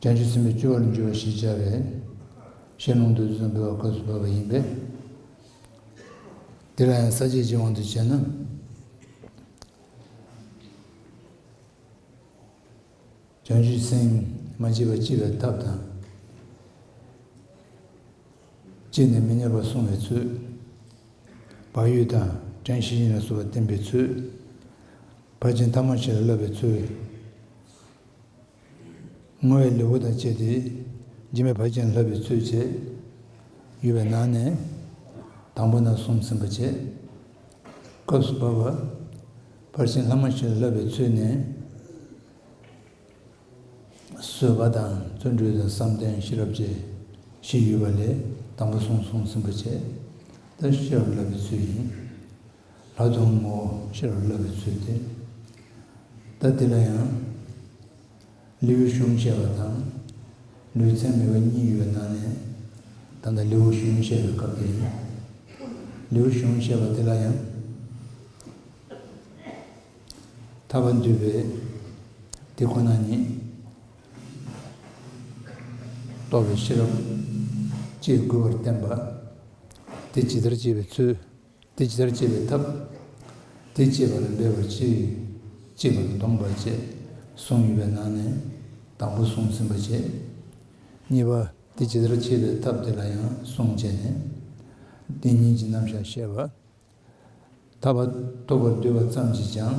བྱང་ཆུབ་སེམས་དཔའི་སྤྱོད་པར་འགྱུར་བ་ཞེས་བྱ་བའི་ཞེས་ལུང་དུ་བསྟན་པའི་བར་སྐབས་སུ་བབས་པ་ཡིན་པས། འདི་ལ་ཡང་ས་བཅད་ཀྱི་དབང་དུ་བྱས་ན། བྱང་ཆུབ་སེམས་མ་སྐྱེས་པ་སྐྱེ་བའི་ཐབས་དང། སྐྱེས་ནས་མི་གནས་པར་སོང་བའི་ཚུལ། བག་ཡོད་དང་བྲན་བཞི་ཡིན་ལ་གསོལ་བ་བསྟན་པའི་ཚུལ། བར་ཆད་མཐའ་མ་ཆེ་ལ་བསླབ་པའི་ཚུལ། བསྔོ་བའི་ལེའུ་དང་བཅས་ཏེ། འཇིགས་མེད་བར་ཅན་ལྷ་བའི་ཚུལ་བྱས། ཡོལ་བའི་ནང་ནས་དང་པོ་ན་གསུམ་ཟིན་པར་བྱས། སྐབས་སུ་བབ། བར་ཆེན་ལྷ་མོ་བཞིན་བསླབ་པའི་ཚུལ་ནི། གསོལ་བ་དང་བརྩོན་འགྲུས་དང་བསམ་གཏན་ཤེས་རབ་བཅས། བཞི་ཡོལ་བ་ལས་དང་པོ་གསུམ་གསུམ་ཟིན་པར་བྱས། ལྟ་ཞིབ་བསླབ་པའི་ཚུལ་ཡིན། ལྷག་མཐོང་ངོ་ཤེས་པར་བསླབ་པའི་ཚུལ་ཏེ། ད་འདི་ལ་ཡང། ལེའུའི་གཞུང་བཤད་པ་དང། ལེའུའི་མཚན་མེད་པ་གཉིས་ཡོད་སྣང་ནས། ད་ལྟ་ལེའུའི་གཞུང་བཤད་པའི་སྐབས་འདི་ཡིན། ལེའུའི་གཞུང་བཤད་པ་འདི་ལ་ཡང། ཐར་པ་འདུས་པའི་དེ་ཁོ་ན་ཉིད། རྟོགས་པའི་ཤེས་རབ། ཅེས་དགུ་པར་བསྟན་པ། དེ་ཇི་ལྟར་བྱེད་པའི་ཚུལ། དེ་ཇི་ལྟར་སྤྱད་པའི་ཐབས། དེ་སྤྱད་པ་ལ་འབད་པར་གྱིས། གཅིག་པར་འདོམས་པར་བྱས། གསུངས་ཡོད་པའི་ནང་ནས། དང་པོ་གསུངས་ཟིན་པར་བྱས། གཉིས་པ། དེ་ཇི་ལྟར་སྤྱད་པའི་ཐབས་དེ་ལ་ཡང་གསུངས་བྱས་ནས། བདེན་གཉིས་ཀྱི་རྣམ་བཞག་བཤད། བར་དག་པ་རྟོགས་པར་འདོད་པ་ཙམ་གྱིས་ཀྱང།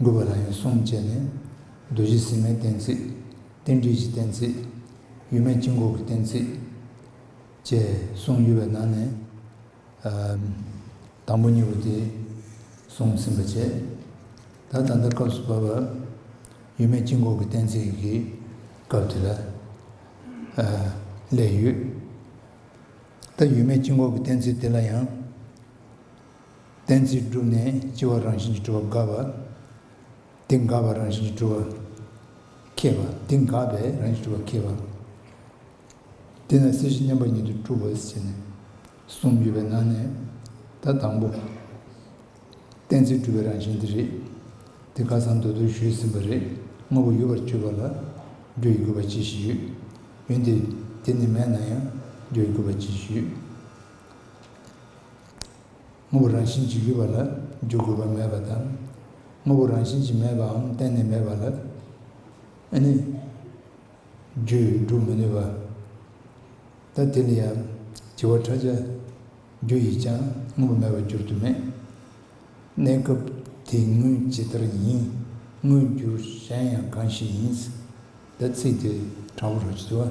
མགུལ་བ་ལ་ཡང་གསུམ་བཅས་ནས། རྡོ་རྗེ་སེམས་མའི་གཏན་ཚིགས། རྟེན་འབྲེལ་གྱི་གཏན་ཚིགས། ཡུལ་མེད་སྐྱེ་འགོག་གི་གཏན་ཚིགས། བཅས་གསུངས་ཡོད་པའི་ནང་ནས། དང་པོ་གཉིས་པོ་དེ་གསུངས་ཟིན་པ་བཅས། ད་ད་ལྟ་སྐབས་སུ་བབས་པར། ཡུལ་མེད་སྐྱེ་འགོག་གི་གཏན་ཚིགས་ཀྱི་སྐབས་དེ་ལ་སླད་ཡོད། ད་ཡུལ་མེད་སྐྱེ་འགོག་གི་གཏན་ཚིགས་དེ་ལ་ཡང། གཏན་ཚིགས་བསྒྲུབས་ནས་སྐྱེ་བ་རང་བཞིན་གྱིས་གྲུབ་པ་འགགས་པ། དེ་འགགས་པ་རང་བཞིན་གྱིས་གྲུབ་པ་མཁས་པ། དེ་འགགས་པས་རང་བཞིན་གྱིས་གྲུབ་པ་མཁས་པ། དེས་ན་སྲིད་ཞི་མཉམ་པ་ཉིད་དུ་གྲུབ་བོ་ཞེས་ནས། གསུམ་ཡོད་པའི་ནང་ནས། ད་དང་པོ། གཏན་ཚིགས་གྲུབ་པའི་རང་བཞིན་དེ་རེད། དེ་ཁ་སང་མདོར་བསྡུར་ཞུས་ཟིན་པ་རེད། དངོས་པོ་ཡོད་པར་བརྗོད་པ་ལ། བརྗོད་ཡི་དགོས་པ་ཅི་ཞིག་ཡོད། འོན་ཏེ་དེ་ནི་མེད་ན་ཡང་བརྗོད་ཡི་དགོས་པ་ཅི་ཞིག་ཡོད། དངོས་པོ་རང་བཞིན་གྱིས་ཡོད་པ་ལ་འཇུག་དགོས་པ་མེད་པ་དང། དངོས་པོ་རང་བཞིན་གྱིས་མེད་པའམ་གཏན་ནས་མེད་པ་ལ་ནི་རྒྱུས་བསྒྲུབ་མི་ནུས་པ། ད་དེ་ལ་ཡང་བྱེ་བ་ཕྲ་ཆ་རྒྱུ་ཡིས་ཀྱང་དངོས་པོ་མེད་པར་འགྱུར་དུ་མེད། གནས་སྐབས་དེའི་དངོས་ཇི་ལྟར་ཡིན་དངོས་འགྱུར་གཞན་ཡང་གང་ཞིག་ཡིན། ད་ཚིག་དེ་དྲང་པོ་སྒྲོག་ཅིག་དུ་བ།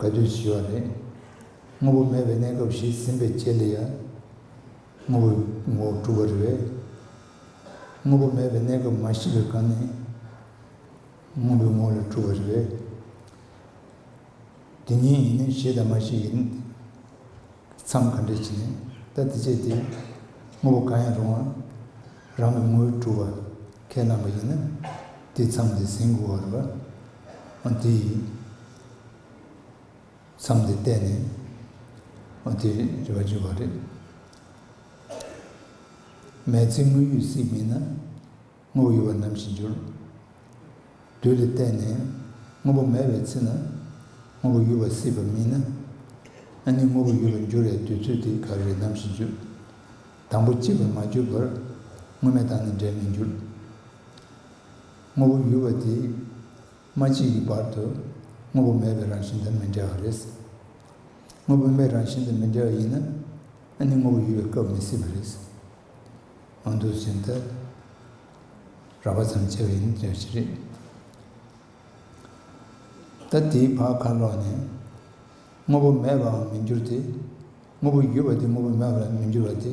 དགའ་སྐྱོ་ཞི་བ་རེད། དངོས་པོ་མེད་པའི་གནས་སྐབས་ཤིག་ཟིན་པའི་རྗེས་ལ་ཡང། དངོས་པོའི་ངོ་བོ་གྲུབ་པ་རེད། དངོས་པོ་མེད་པའི་གནས་སྐབས་མ་ཤི་བའི་སྐབས་ནས། དངོས་པོའི་ངོ་བོ་ལ་གྲུབ་པ་རེད། དེ་གཉིས་ཡིན་ན་ཤི་དང་མ་ཤི་ཡི་མཚམས་ག་འདྲས་ཀྱི་ནས་ད་དེ་སྤྱད་དེ། དངོས་པོ་གང་ཡང་རུང་བ་རང་གི་ངོ་བོས་གྲུབ་པ་ཁས་བླངས་པ་ཡིན་ན། དེའི་མཚམས་དེ་ཟིན་དགོས་བ་རེད། འོན་ཏེ། མཚམས་འདི་གཏད་ནས། ཨོ་དེ་རེད་རེ་བ་བརྗོད་པ་རེད། མེས་ཚིག་དངོས་ཡོད་སྲིད་མིན་ན། དངོས་པོ་ཡོད་པ་ནམ་ཞིག་འགྱུར། དུས་འདི་གཏད་ནས། དངོས་པོ་མེད་པའི་ཚེ་ན། དངོས་པོ་ཡོད་པ་སྲིད་པ་མིན་ན། ཨ་ནི་དངོས་པོ་ཡོད་པར་འགྱུར་བའི་དུས་ཚོད་དེ་ག་རེ་རེད་ནམ་ཞིག་འགྱུར། དང་པོ་གཅིག་པར་མ་གྱུར་བར། དངོས་མེད་དང་ནི་འབྲལ་མི་འགྱུར། དངོས་པོ་ཡོད་པ་དེ། མ་གཅིག་གི་བར་དུ་དངོས་པོ་མེད་པའི་རང་བཞིན་དང་མི་འབྲལ་བ་རེད། དངོས་པོ་མེད་རང་བཞིན་དང་མི་འབྲལ་བ་ཡིན་ན་ཨ་ནི་དངོས་པོ་ཡོད་པའི་སྐབས་མི་སྲིད་པ་རེད། ཨང་དུ་བྱས་མཐར་རགས་པ་ཙམ་བྱས་པ་ཡིན་ཟེར་བ་ཞིག་རེད། ད་དེའི་བར་ཁ་ལོག་ནས་དངོས་པོ་མེད་པའང་མི་འགྱུར་ཏེ། དངོས་པོ་ཡོད་པ་དེ་དངོས་པོ་མེད་པར་མི་འགྱུར་བ་དེ།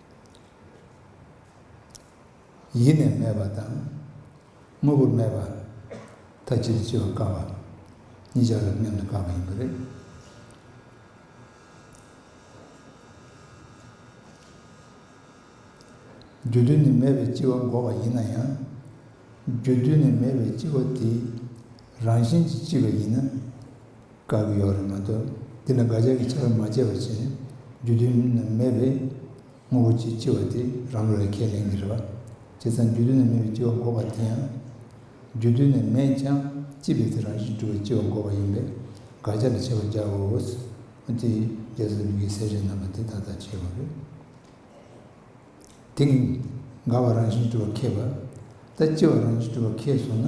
ཡེ་ནས་མེད་པ་དང། དངོས་པོ་མེད་པ། ཐ་ཇིག་ཏུ་སྐྱེ་བར་དཀའ་བ། གཉིས་ཆར་རབ་མཉམ་དུ་དཀའ་བ་ཡིན་པ་རེད། རྒྱུ་དུས་ནས་མེད་པའི་སྐྱེ་བ་འགོག་པ་ཡིན་ན་ཡང། རྒྱུ་དུས་ནས་མེད་པའི་སྐྱེ་བ་དེའི་རང་བཞིན་གྱིས་ལྕི་བ་ཡིན་ན། དགའ་གི་ཡོག་རེད་མ་གཏོགས་འདི་ལ་དགའ་ཞག་གི་ཆར་མ་བཅད་པར་བྱས་རྒྱུ་དུས་ན་མེད་པས། དངོས་པོ་གཅིག་ལྕི་བ་དེ་རང་བློ་ལས་ཁས་ལེན་གི་རེད་བ། བྱས་ཙང་རྒྱུ་དུས་ན་མེད་པའི་ལྕི་བ་འགོག་པ་དེ་ཡང། རྒྱུ་དུས་ན་མེད་ཀྱང་ལྕི་བས་དེ་རང་བཞིན་གྲུབ་པའི་ལྕི་བ་འགོག་པ་ཡིན་པས་དགའ་ཞག་གི་ཆེ་བ་རྒྱག་འོས་བོ། དེ་རྒྱ་བཟའ་ཟླུ་གིས་ཟས་བྱས་རྣམས་པ་དེ་ད་ལྟ་བྱས་བ་རེད། དེ་གིས་དགའ་བ་རང་བཞིན་གྲུབ་པ་ཁས་བ། ད་ལྕི་བ་རང་བཞིན་གྲུབ་པ་ཁས་སོང་ན།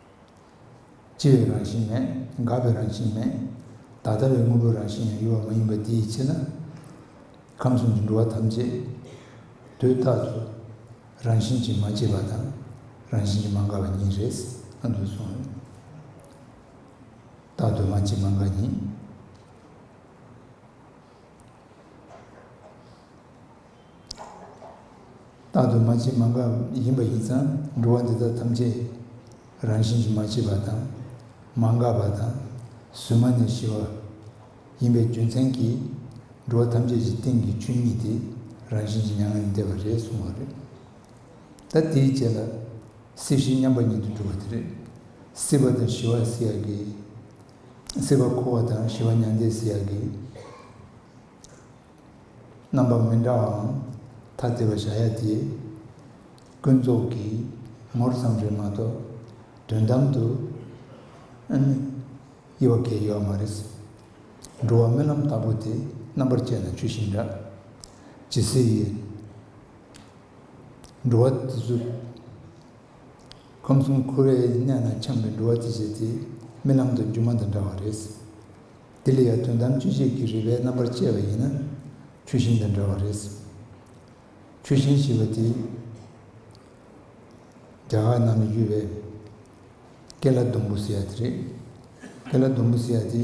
སྐྱེ་བའི་རང་བཞིན་མེད། འགག་པའི་རང་བཞིན་མེད། བདག་ལྟ་བའི་དངོས་པོའི་རང་བཞིན་ཡང་གཡོ་བ་མ་ཡིན་པ་དེའི་ཕྱིར་ན། ཁམས་གསུམ་གྱི་འགྲོ་བ་ཐམས་ཅད་དུས་རྟག་ཏུ་རང་བཞིན་གྱིས་མ་སྐྱེས་པ་དང། རང་བཞིན་གྱིས་མ་འགགས་པ་ཉིད་རེད། ཨ་འདུག་སོང། རྟག་ཏུ་མ་སྐྱེས་མ་འགགས་ཉིད། རྟག་ཏུ་མ་སྐྱེས་མ་འགགས་ཡིན་པ་ཡིན་ཙང་འགྲོ་བ་འདི་དག་ཐམས་ཅད་རང་བཞིན་གྱིས་མ་སྐྱེས་པ་དང་མ་འགགས་པ་དང་གཟུན་མ་ནས་ཞི་བ་ཡིན་པའི་རྒྱུ་མཚན་གྱིས་འགྲོ་བ་ཐམས་ཅད་ཀྱི་སྟེང་གི་ཆོས་ཉིད་དེ་རང་བཞིན་གྱིས་མྱ་ངན་ལས་འདས་པ་རེད་གསུངས་བ་རེད། ད་དེའི་རྗེས་ལ་སྲིད་ཞི་མཉམ་པ་ཉིད་དུ་འགྲོ་བ་དེ་རེད། སྲིད་པ་དང་ཞི་བ་སྲིད་ཡག་གི། སྲིད་པ་འཁོར་བ་དང་ཞི་བ་མྱང་འདས་སུ་ཡར་གྱི་རྣམ་པ་མི་འདྲ་བའང་ཐ་དད་པར་བཞག་ཡ་དེས། ཀུན་རྫོབ་ཀྱི་ངོར་ཙམ་རེད་མ་གཏོགས་དོན་དམ་དུ་དབྱེ་བ་འགལ་ཡོད་པ་མ་རེད། འགྲོ་བ་རྨི་ལམ་ལྟ་བུ་དེ་རྣམ་པར་དཔྱད་ན་ཆུ་ཤིང་འདྲ། ཇི་སྲིད་འགྲོ་བ་དེ་ཚོའི་ཁམས་གསུམ་ཁུ་རེ་གནས་ན་ཆང་གི་འགྲོ་བ་ཅི་བྱེད་ཅེས་རྨི་ལམ་དུ་སྒྱུ་མ་དང་འདྲ་བ་རེད། འདི་ལ་ཡང་དོན་དམ་དཔྱོད་བྱེད་ཀྱི་རིག་པའི་རྣམ་པར་དཔྱད་པ་ཡིན་ན་ཆུ་ཤིང་དང་འདྲ་བ་རེད། ཆུ་ཤིང་ཞེས་པ་དེ་རྒྱ་གར་ནང་ནས་ཡོད་པའི་ཀེ་ལ་སྡོང་བུ་ཟེར་བ་དེ་རེད། ཀེ་ལ་སྡོང་བུ་ཟེར་བ་དེ།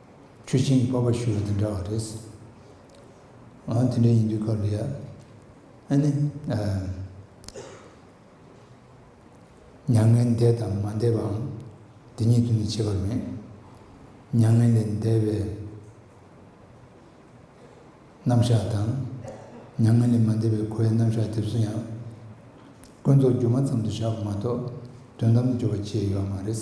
ཁྱོད་ཆེན་གྱི་པགས་པ་ཞུ་བ་དང་འདྲ་བ་རེད། འོ་དེ་འདྲ་ཡིན་དུས་སྐབས་རེ་ཡ། ཨ་ནི། མྱ་ངན་འདས་དང་མ་འདས་པའང་འདི་ཉིད་དུ་ནི་བྱེད་པར་མེད། མྱ་ངན་ལས་འདས་པའི་རྣམ་གཞག་དང། མྱ་ངན་ལས་མ་འདས་པའི་འཁོར་བའི་རྣམ་གཞག་དེ་ཚོ་ཡང། ཀུན་རྫོབ་སྒྱུ་མ་ཙམ་དུ་བཞག་པ་མ་གཏོགས་དོན་དམ་དུ་སྦྱོར་བ་བཅས་ཡོད་པ་མ་རེད།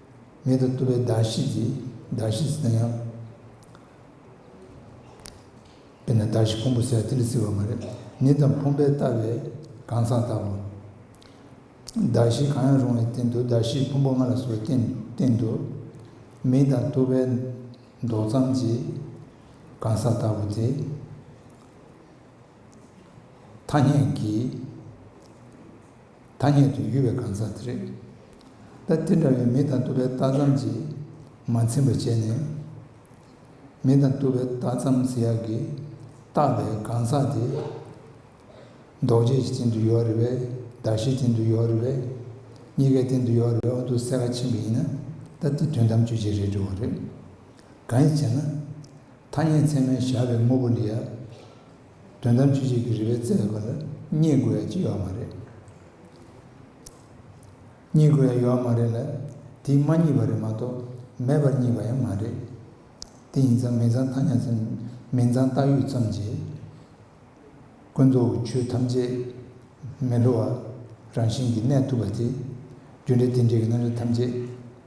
མེད་དུ་བཏུབ་པའི་བརྡར་ཤེས་ཀྱི་བརྡར་ཤེས་ཟེར་ན་ཡང། དཔེར་ན་བརྡར་ཤེས་ཕུང་པོ་ཟེར་ཡང་དེ་ལས་བརྩི་བ་མ་རེད། ནི་དང་ཕུང་པོའི་ལྟ་བའི་གང་ཟག་ལྟ་བུ། བརྡར་ཤེས་གང་ཡང་རུང་བའི་སྟེང་དུ་བརྡར་ཤེས་ཕུང་པོ་ལྔ་ལ་བཟོ་བའི་སྟེང་དུ། མེད་དང་བཏུབ་པའི་མདོག་ཙམ་གྱི་གང་ཟག་ལྟ་བུ་དེ། ཐ་སྙད་ཀྱི། ཐ་སྙད་དུ་ཡུལ་བའི་གང་ཟག་དེ་རེད། ད་དེ་འདྲ་བའི་མི་དང་ལྟོ་བའི་རྟགས་ཙམ་གྱིས་མ་ཚིམ་པར་བྱས་ནས། མི་དང་ལྟོ་བའི་རྟགས་ཙམ་ཟེར་ཡག་གི། བཏགས་པའི་གང་ཟག་དེ། འདོགས་བྱེད་ཀྱི་སྟེང་དུ་ཡོད་རེད་བས། གདགས་བྱའི་སྟེང་དུ་ཡོད་རེད་བས། གཉིས་ཀའི་སྟེང་དུ་ཡོད་རེད་བས་འོ་འདུག་གསལ་ཁ་ཕྱིན་པ་ཡིན་ན། ད་དེ་དོན་དམ་དཔྱོད་བྱེད་རེད་འདྲི་བ་རེད། གང་ཡིན་ཅེ་ན། ཐ་སྙད་ཚད་མའི་བཞག་པའི་དངོས་པོ་འདི་ཡང། དོན་དམ་ཆོས་ཅིག་གི་རིགས་པའི་རྩལ་ཡོད་པ་ལ་རྙེད་དགོས་ཡ་ཅི་ཡོད་མ་རེད། རྙེད་དགོས་ཡ་ཡོད་མ་རེད་ལ། དེས་མ་རྙེད་པ་རེད་མ་གཏོགས་མེད་པར་རྙེད་པ་ཡང་མ་རེད། དེ་ཡིན་ཙང་མེད་ཙང་ཐ་སྙད་ཙམ་མིན་ཙང་བཏགས་ཡོད་ཙམ་གྱིས། ཀུན་རྫོབ་ཀྱི་ཆོས་ཐམས་ཅད་མི་སླུ་བ་རང་བཞིན་གྱིས་གནས་ཐུབ་པ་དེ། རྒྱུ་འབྲས་དེ་འདྲའི་གྱི་རྣམ་གཞག་ཐམས་ཅད་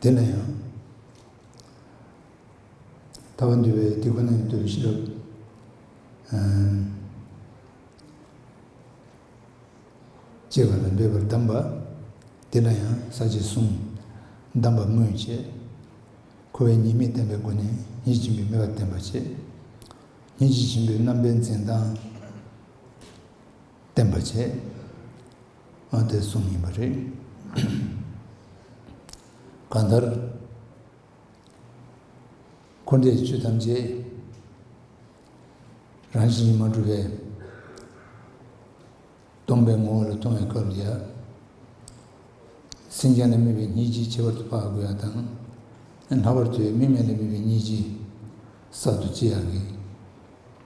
དེ་ལ་ཡང། ཐ་བ་འདུལ་བའི་དུས་ཁོ་ན་ཡིན་དུས་ཤེས་རབ། ཅེས་པ་ལ་འདོད་པར་གདམས་པ། དེ་ལ་ཡང་ས་བཅད་གསུམ། གདམས་པ་སྨོས་བཅས། འཁོར་བའི་ཉེས་དམིགས་བསྟན་པའི་སྒོ་ནས་ཡིད་བཞིན་པའི་མོས་པ་བསྟན་པར་བྱེད། ཡིད་བཞིན་པའི་རྣམ་པའི་འཛིན་སྟངས། བསྟན་པ་བྱས། ཨ་དེ་གསུམ་ཡིན་པ་རེད། གང་ལྟར། འཁོར་འདས་བཅུད་ཐམས་ཅད། རང་བཞིན་ཉིད་མ་གྲུབ་པས། སྟོང་པའི་ངོ་བོ་ལ་ལྟུང་བའི་སྐབས་ཀྱི། སེམས་ཅན་ལ་དམིགས་པའི་གཉིས་ཅིག་ཁྱད་པར་དུ་འཕགས་དགོས་ཡ་དང། ལྷག་པར་དུ་དམིགས་མེད་ལ་དམིགས་པའི་གཉིས་ཅིག། གསར་དུ་སྐྱེ་ཡག་གི།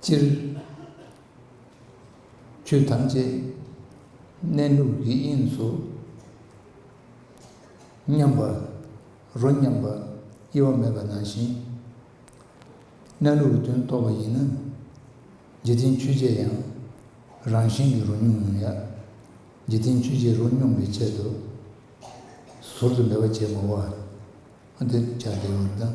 སྤྱིར། ཆོས་ཐམས་ཅད་གནས་ལུགས་ཀྱི་དབྱིངས་སུ་མཉམ་པར་རོ་མཉམ་པར་དབྱེ་བ་མེད་པ་ནང་བཞིན། གནས་ལུགས་ཀྱི་དོན་རྟོགས་པ་ཡིན་ན། འཇིག་རྟེན་ཆོས་ཅན་ཡང་རང་བཞིན་གྱིས་རོ་མྱོང་མྱོང་ཡང། འཇིག་རྟེན་ཆོས་ཅན་རོ་མྱོང་བའི་ཆེད་དུ། ཟུར་དུ་འབད་པ་བྱེད་མི་འོས། འདིར་སྦྱར་བདེ་བར་ལྡང།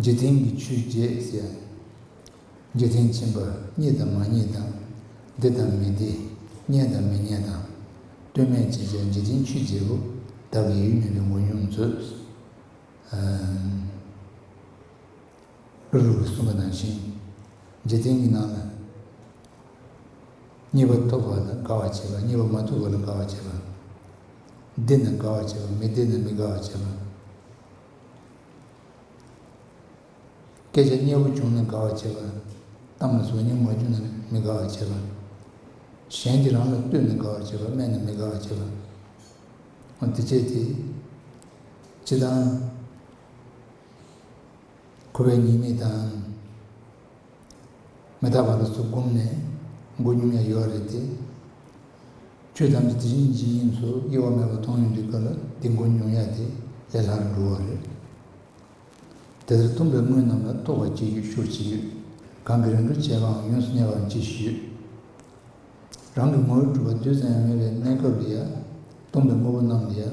འཇིག་རྟེན་གྱི་ཆོས་བརྒྱད་ཟེར། འཇིག་རྟེན་ཆེན་པོར་རྙེད་དང་མ་རྙེད་དང། བདེ་དང་མི་བདེ་རྙེད་དང་མི་རྙེད་དང། སྟོད་སྨད་ཅེས་བྱ་འཇིག་རྟེན་ཆོས་བརྒྱད་པོ། བདག་གི་ཡུལ་མིན་པའི་མགོན་ཡུམ་མཛོད། ཀླུ་རུ་གསུམ་པ་ནང་བཞིན་འཇིག་རྟེན་གྱི་ནང་ལ། རྙེད་པ་ཐོབ་པ་ལ་དགའ་བར་བྱེད་པ་རྙེད་པ་མ་ཐོབ་པ་ལ་དགའ་བར་བྱེད་པ། བདེ་ན་དགའ་བར་བྱེད་པ་མི་བདེ་ན་མི་དགའ་བར་བྱེད་པ། སྐད་ཆ་སྙན་པོ་བྱུང་ན་དགའ་བར་བྱེད་པ། གཏམ་ལ་ཟུག་སྙན་མ་རྒྱུ་ན་མི་དགའ་བར་བྱེད་པ། གཞན་གྱིས་རང་ལ་བསྟོད་ནས་དགའ་བར་བྱེད་པ་སྨད་ནས་མི་དགའ་བར་བྱེད་པ། འདི་བྱས་དེ་བྱེད་དང། འཁོར་བའི་ཉེས་དམིགས་དང། མི་རྟག་པ་ལ་སོགས་བསྒོམས་ནས་མགོ་སྙོམས་ཡང་ཡོད་རེད་དེ། ཆོས་ཐམས་ཅད་དེ་བཞིན་ཇི་སྙེད་སུ་དབྱེ་བ་མེད་པར་མཐོང་ཡོང་གི་སྐབས་ལ་དེ་མགོ་སྙོམས་ཡ་དེ་ལས་ལྷག་རུ་འགྲོ་བ་རེད། དེ་ལྟར་སྟོང་པའི་དངོས་རྣམས་ལ་རྟོགས་པར་བྱེད་རྒྱུ་ཤུགས་ཆེ་ཡོད། གང་གི་རང་གི་བྱས་པའང་ཡོངས་སུ་གནས་པའང་ཅིའི་ཕྱིར་ཡོད། རང་གི་ངོ་བོའི་གྲུབ་པ་རྡུལ་ཙམ་ཡང་མེད་པའི་གནས་སྐབས་ལ་ཡ། སྟོང་པའི་དངོས་པོ་རྣམས་ལ་ཡ།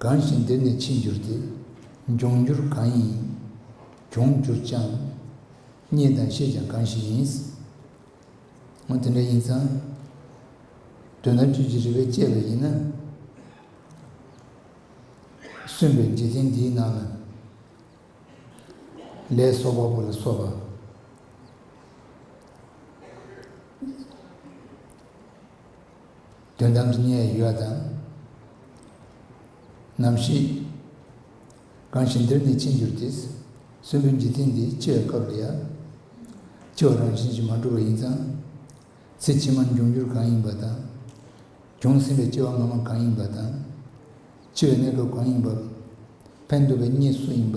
གང་ཞིག་འདིར་ནི་འཆི་འགྱུར་ཏེ། འབྱུང་འགྱུར་གང་ཡིན་ཡིན། འབྱུང་འགྱུར་ཅང། རྙེད་དང་ཤེས་ཀྱང་གང་ཞིག་ཡིན། འོ་དེ་འདྲ་ཡིན་ཙང། དོན་དམ་བཅུད་ཀྱི་རིགས་པས་དཔྱད་པ་ཡིན་ན། གསོན་པའི་འཇིག་རྟེན་འདིའི་ནང་ན། ལས་སོགས་བ་པོ་ལ་སོགས་པ། དོན་དམ་གཉིས་ཡོད་དམ། ནམ་ཞིག། གང་ཞིག་འདིར་ནི་ཕྱིན་གྱུར་ཏེ། གསོན་པོའི་འཇིག་རྟེན་འདི་ཅི་བའི་སྐབས་ལ་ཡང། སྐྱེ་བ་རང་བཞིན་གྱིས་མ་འགྲོ་བ་ཡིན་ཙང། ཚེ་ཕྱི་མར་འབྱུང་འགྱུར་གང་ཡིན་པ་དང། བྱུང་ཟིན་པའི་སྐྱེ་བ་སྔ་མ་གང་ཡིན་པ་དང། འཆི་བའི་གནས་སྐབས་གང་ཡིན་པ། ཕན་འདོགས་པའི་གཉིས་སུ་ཡིན་པ།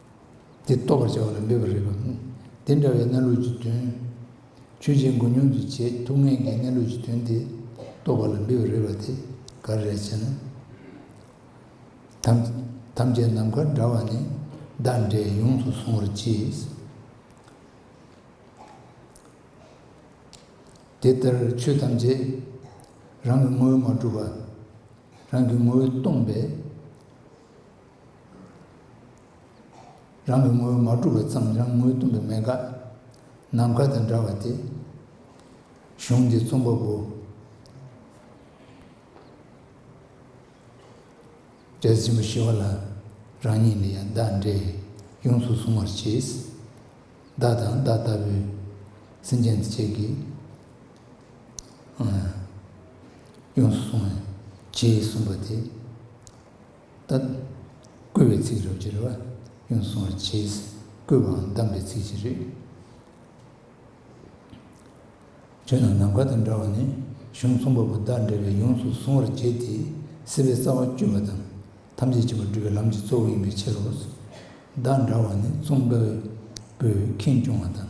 དེ་རྟོགས་པར་བྱ་བ་ལ་འབད་པར་རིགས་པ། དེ་འདྲ་བའི་གནས་ལུགས་ཀྱི་དོན། ཆོས་ཅན་མགོ་སྙོམས་ཀྱི་བྱེད་ཐུབ་ངེས་ཀྱི་གནས་ལུགས་ཀྱི་དོན་དེ་རྟོགས་པ་ལ་འབད་པར་རིགས་པ་དེ་ག་རེ་རེད་ཅེ་ན། ཐམས་ཅད་ནམ་མཁའ་འདྲ་བ་ནི་བདག་འདྲས་ཡོངས་སུ་བཟུང་བར་གྱིས། དེ་ལྟར་ཆོས་ཐམས་ཅད་རང་གི་ངོ་བོས་མ་གྲུབ་པ། རང་གི་ངོ་བོས་སྟོང་པས། རང་གི་ངོ་བོ་མ་གྲུབ་པ་ཙམ་རང་ངོས་སྟོང་པའི་མེད་དགག། ནམ་མཁའ་དང་འདྲ་བ་སྟེ། གཞུང་འདི་རྩོམ་པ་པོ། འབྲས་ཆེན་པོ་ཞི་བ་ལ། རང་ཉིད་འདི་ཡང་བདག་འདྲས་ཡོངས་སུ་གཟུང་བར་བྱས། བདག་དང་བདག་ལྟ་བུའི། སེམས་ཅན་འདི་བྱས་ཀྱི། ཡོངས་སུ་གཟུང་བར་བྱས་གསུངས་པ་དེ། བཏབ། བསྐུལ་བའི་ཚིག་རབ་ཀྱི་རེ་བ་ཀུན་སྲུང་བར་བྱས། བསྐུལ་བའང་གདམས་པའི་ཚིག་ཅི་རིགས། ཆོས་རྣམས་ནམ་མཁའ་དང་འདྲ་བ་ནི། གཞུང་གསུམ་པ་པོ་དག་འདྲ་བས་ཡོངས་སུ་གཟུང་བར་བྱེད་དེ། སྲིད་པའི་རྩ་བ་བཅུ་པ་དང། ཐམས་ཅད་བྱེད་པར་སྒྲུབ་པའི་ལམ་གྱི་གཙོ་བོ་ཡིན་པའི་ཕྱིར་རོ། བདག་འདྲ་བ་ནི་གཙུག་འདྲ་བས་པོས་ཁེངས་སྐྱུང་བ་དང།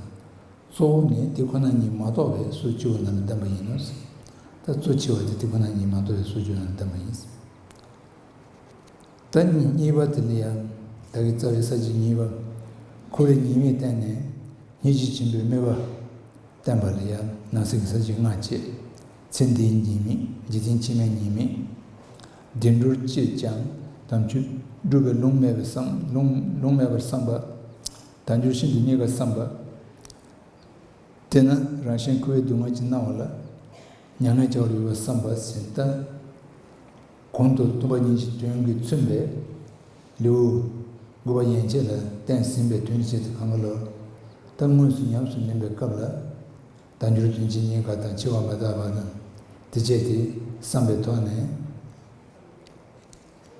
གཙོ་བོ་ནི་དེ་ཁོ་ན་ཉིད་མ་རྟོགས་པས་སོ་བཅུ་བ་རྣམས་བདམས་པ་ཡིན་ནོ། ད་གཙོ་ཆེ་བ་དེ་དེ་ཁོ་ན་ཉིད་མ་རྟོགས་པས་སོ་བཅུ་རྣམས་བདམས་པ་ཡིན། ད་ཉིད་གཉིས་པ་དེ་ནི་ཡང་དག་གི་རྩ་བའི་ས་བཅད་གཉིས་པ། འཁོར་བའི་ཉེས་དམིགས་བསྟན་ནས་ཉིད་ཀྱིས་བྱིན་པའི་སྨོད་པ་བསྟན་པ་ལ་ཡང་ནང་གསེས་ཀྱི་ས་བཅད་ལྔ་བཅས། ཚེ་འདིའི་ཉེས་དམིགས་འཇིག་རྟེན་ཕྱི་མའི་ཉེས་དམིགས། བདེ་འགྲོར་བཅས་ཀྱང་དམ་ཆོས་སྒྲུབ་པའི་ལུང་མེད་པའི་བསམ་ལུང་མེད་པར་བསམ་པ། དལ་འབྱོར་ཤིན་ཏུ་རྙེད་པར་བསམ་པ། དེས་ན་རང་གཞན་འཁོར་བའི་སྡུག་བསྔལ་གྱི་སྣང་བ་ལ། མྱ་ངན་བྱ་བར་འགྱུར་བར་བསམ་པ་བཞིན་བསྟན། གོང་དུ་གཏུམ་པ་གཉིས་ཀྱི་དོན་གྱིས་མཚོན་པའི་ལེའུ། དགུ་པ་ཡན་ཆད་ལ་བསྟན་ཟིན་པའི་དོན་བྱེད་དུ་གང་གཱ་ལོག་ལྟར་དངོས་སུ་ཉམས་སུ་ལེན་པའི་སྐབས་ལ། བདག་འགྱུར་དོན་བྱེད་གཉིས་ཀ་དང་འཆི་བ་མི་རྟག་པ་དང་དེ་བཅས་ཏེ་བསམ་པའི་ཐོག་ནས།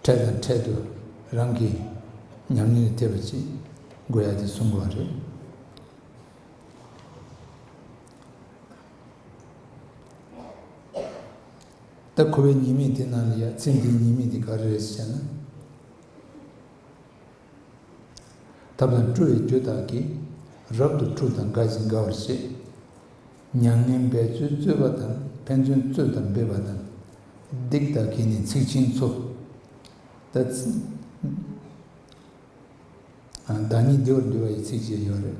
འཕྲལ་དང་འཕྲལ་དུ་རང་གི་ཉམས་མྱོང་ལ་ཐེ་བ་ཅི་དགོས་ཡ་དེ་གསུང་དགོས་པ་རེད། ད་ཁོ་བོའི་ཉེས་མིང་དེ་ནང་ལ་ཡ་ཚེ་འདིའི་ཉེས་མིང་དེ་ག་རེ་རེད་ཟེར་ན། ཐབས་དང་སྤྲོ་བའི་རྒྱུ་དག་གིས། རབ་ཏུ་འཁྲུགས་དང་དགའ་ཞིང་དགའ་བར་བྱེད། མྱ་ངན་འབད་རྩོལ་རྩོལ་བ་དང་ཕན་ཚུན་རྩོད་དང་འབེབས་པ་དང། སྡིག་དག་གིས་ནི་ཚིག་ཆེན་འཚོ། བདག་ཉིད་བདེ་བར་འདུལ་བ་ཡི་ཚིགས་བཅད་ཡོད་རེད།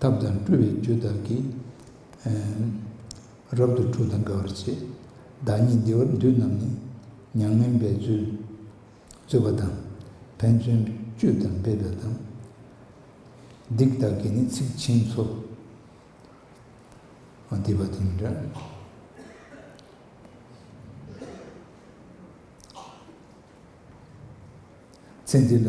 ཐབས་དང་སྤྲུལ་བའི་རྒྱུ་དག་གིས། རབ་ཏུ་འཁྲུགས་དང་དགའ་བར་བྱེད། བདག་ཉིད་བདེ་བར་འདུད་རྣམས་ནི། མྱ་ངན་འབད་རྩོལ་རྩོལ་བ་དང། ཕན་ཚུན་གཅོད་དང་འབད་པའི་དང། སྡིག་དག་གིས་ནི་ཚིག་ཕྱིན་འཚོ། སྡིག་པ་དང་འདྲ། ཚེ་འདི་ལ།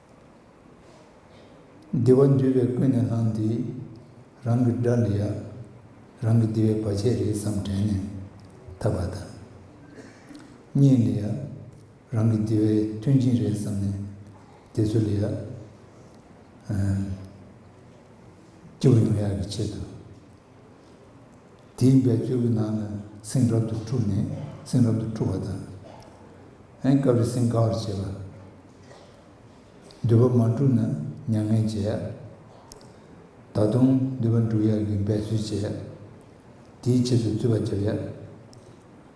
བདེ་བ་འདུས་པའི་ཀུན་ནས་བསླངས་འདི། རང་གི་དགྲ་འདི་ཡག། རང་གི་བདེ་བའི་བར་ཆད་རེད་བསམ་དྲན་ནས་འཐབ་པ་དང། གཉེན་འདི་ཡག། རང་གི་བདེ་བའི་མཐུན་རྐྱེན་རེད་བསམ་ནས་བདེ་ཚོད་ལ་ཡག། སྐྱིད་པོ་ཡོང་ཡག་གི་ཆེད་དུ། དེའི་འབད་རྩོལ་གྱི་ནང་ནས་སེམས་རབ་ཏུ་འཁྲུགས་ནས་སེམས་རབ་ཏུ་འཁྲུགས་པ་དང། སྐབས་རེ་སེམས་དགའ་བར་བྱེད་པ། འདོད་པ་མ་འགྲུབ་ན་མྱ་ངན་བྱེད། ད་དུང་འདོད་པ་འགྲུབ་ཡག་གི་འབད་རྩོལ་བྱེད། དེའི་ཆེད་དུ་རྩོད་པ་བརྒྱབ་ཡག།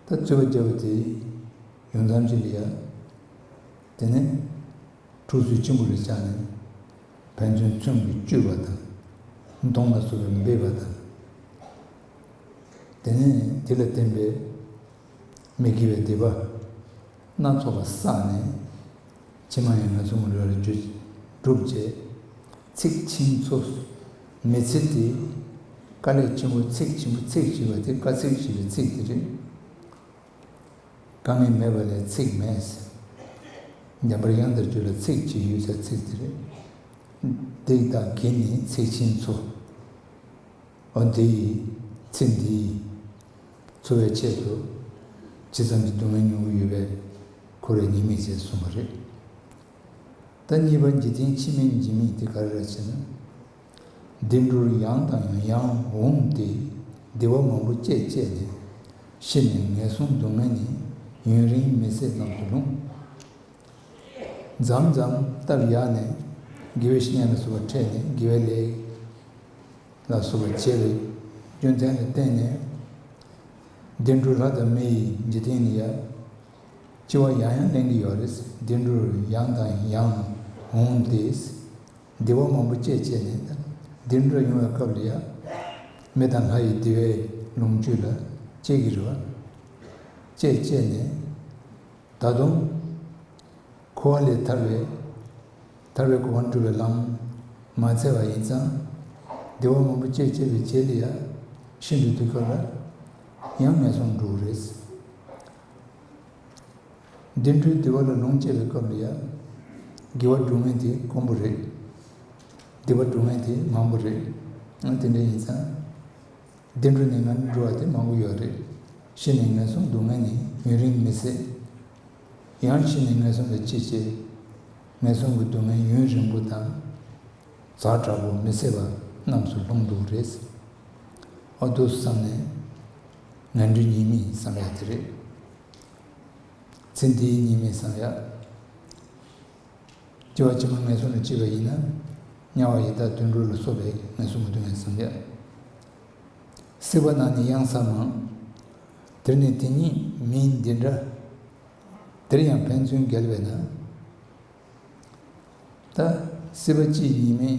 ད་རྩོད་པ་བརྒྱབ་པ་དེ་ཡོང་མཚམས་ཅི་ལ་ཡག། དེ་ནས་འཁྲུགས་ཚུལ་ཆེན་པོ་རེ་བཅངས་ནས། ཕན་ཚུན་བརྩོན་གྱིས་སྤྱོད་པ་དང། མདོང་ལ་སོགས་པའི་འབེབས་པ་དང། དེ་ནས་དེ་ལ་བརྟེན་པའི་མི་དགེ་བའི་སྡིག་པ་སྣ་ཚོགས་པ་བསགས་ནས། ཕྱི་མ་ཡང་ངན་སོང་གི་ལུས་ལ་རྒྱུ་བསྒྲུབ་བྱའི་ཚིག་ཆེན་ཚོ་མི་ཚིག་སྟེ། བཀའ་ལས་ཆེན་པོ་ཚིག་ཆེན་པོ་ཚིག་བཞི་པ་དེ་བཀའ་ཚིག་བཞི་པའི་ཚིག་དེ་རེད། དཀའ་ངལ་མེད་པ་ལས་ཚིག་མེད་ཟེར། འདན་པར་ཡང་འདིར་བརྗོད་ལ་ཚིག་ཅིག་ཡོད་ས་ཚིག་འདི་རེད། འདི་དག་གི་ནི་ཚིག་ཆེན་ཚོ། འོ་འདི་ཡིས། ཚིག་འདི་ཡིས། འཚོ་བའི་ཆེད་དུ། ཇི་ཙམ་གྱི་སྡུག་བསྔལ་མྱོང་གི་ཡོད་པའི། ཁོ་རེ་ཉེས་དམིགས་ཟེར་གསུངས་པ་རེད། ད་གཉིས་པ་འཇིག་རྟེན་ཕྱི་མའི་འཇིགས་དམིགས་དེ་ག་རེ་ར་བྱེད་ན། བདེ་འགྲོར་ཡང་དང་ཡང་འོངས་ཏེ་བདེ་བ་མང་པོ་བསྐྱེད་བསྐྱེད་ནས་ཤི་ནས་ངན་སོང་སྡུག་བསྔལ་ནི་ཡུན་རིང་མི་ཚེ་རྣམས་སུ་ལྷུང། འཇམ་འཇམ་སྟབས་ཡག་ནས་དགེ་བའི་བཤེས་གཉེན་ལ་བསུ་བ་འཕྲད་ནས་དགེ་བའི་ལས་ལ་བསུ་བ་བྱེད་པའི་རྒྱུ་མཚན་ལ་བརྟེན་ནས་བདེ་འགྲོར་ལྷ་དང་མི་ཡི་འཇིག་རྟེན་ནི་ཡ་ལྕི་བ་ཡང་ཡང་གླེང་གི་ཡོད་རེད་བདེ་འགྲོར་ཡང་དང་ཡང་འོངས་ཏེ། སྡེ་བ་མང་པོ་བཅས་བྱས་ནས་འདིར་འགྲོ་ཡོང་བའི་སྐབས་ལ་ཡང། མི་དང་ལྷ་ཡི་སྡེ་བའི་ལུང་བཅུད་ལ་དཔྱད་ཀྱི་རེད། བཅས་བཅས་ནས། ད་དུང། འཁོར་བ་ལས་ཐར་བའི། ཐར་བའི་གོ་བ་འགྲུབ་པའི་ལམ། མ་འཚལ་བ་ཡིན་ཙང། སྡེ་བ་མང་པོ་བཅས་བྱས་པའི་རྗེས་ལ་ཡང། ཤིན་ཏུ་དུས་སྐབས་ལ། ཡང་ངན་སོང་འགྲོ་གི་རེད། འགྲིམ་འགྲུལ་ལྟེ་བ་ལ་ལུང་བསྐྱེད་པའི་སྐབས་ལ་ཡང། དགེ་བ་སྒྲུབ་ངེས་དེ་དཀོན་པོ་རེད། སྡིག་པ་སྒྲུབ་ངེས་དེ་མང་པོ་རེད། ཡང་དེ་འདྲ་ཡིན་ཙང། སྡིག་འགྲོ་ནི་ངར་འགྲོ་བ་དེ་མང་པོ་ཡོད་རེད། ཤི་ནས་ངན་སོང་འདུག་ངེས་ནི་ཡུན་རིང་མི་སྲིད། ཡང་ཤི་ནས་ངན་སོང་ལ་ཅི་བྱེད། ངན་སོང་གི་སྡུག་བསྔལ་ཡུན་རིང་པོ་དང། ཛག་དྲག་པོ་མི་སྲིད་པ་རྣམས་སུ་ལྷུང་འདུག་རེད། ཨ་རྡོ་བསམ་ནས། ངན་འགྲོའི་གཉིས་མེད་བསམ་ཡག་དེ་རེད། ཚེ་འདིའི་གཉིས་མེད་བསམ་ཡག། སྐྱེ་བ་ཕྱི་མ་ངན་སོང་ལ་སྐྱེས་པ་ཡིན་ན། དམྱལ་བ་ཡི་དྭགས་དུད་འགྲོ་ལ་སོགས་པའི་ངན་སོང་གི་སྡུག་བསྔལ་བསམ་ཡག། སྲིད་པ་ནང་ནས་གཡང་ས་མང། དེར་ནི་དེ་གཉིས་མིན་འདི་འདྲ། དེར་ཡང་ཕན་ཚུན་འགལ་བས་ན། ད་སྲིད་པ་སྤྱིའི་གཉིས་མེད།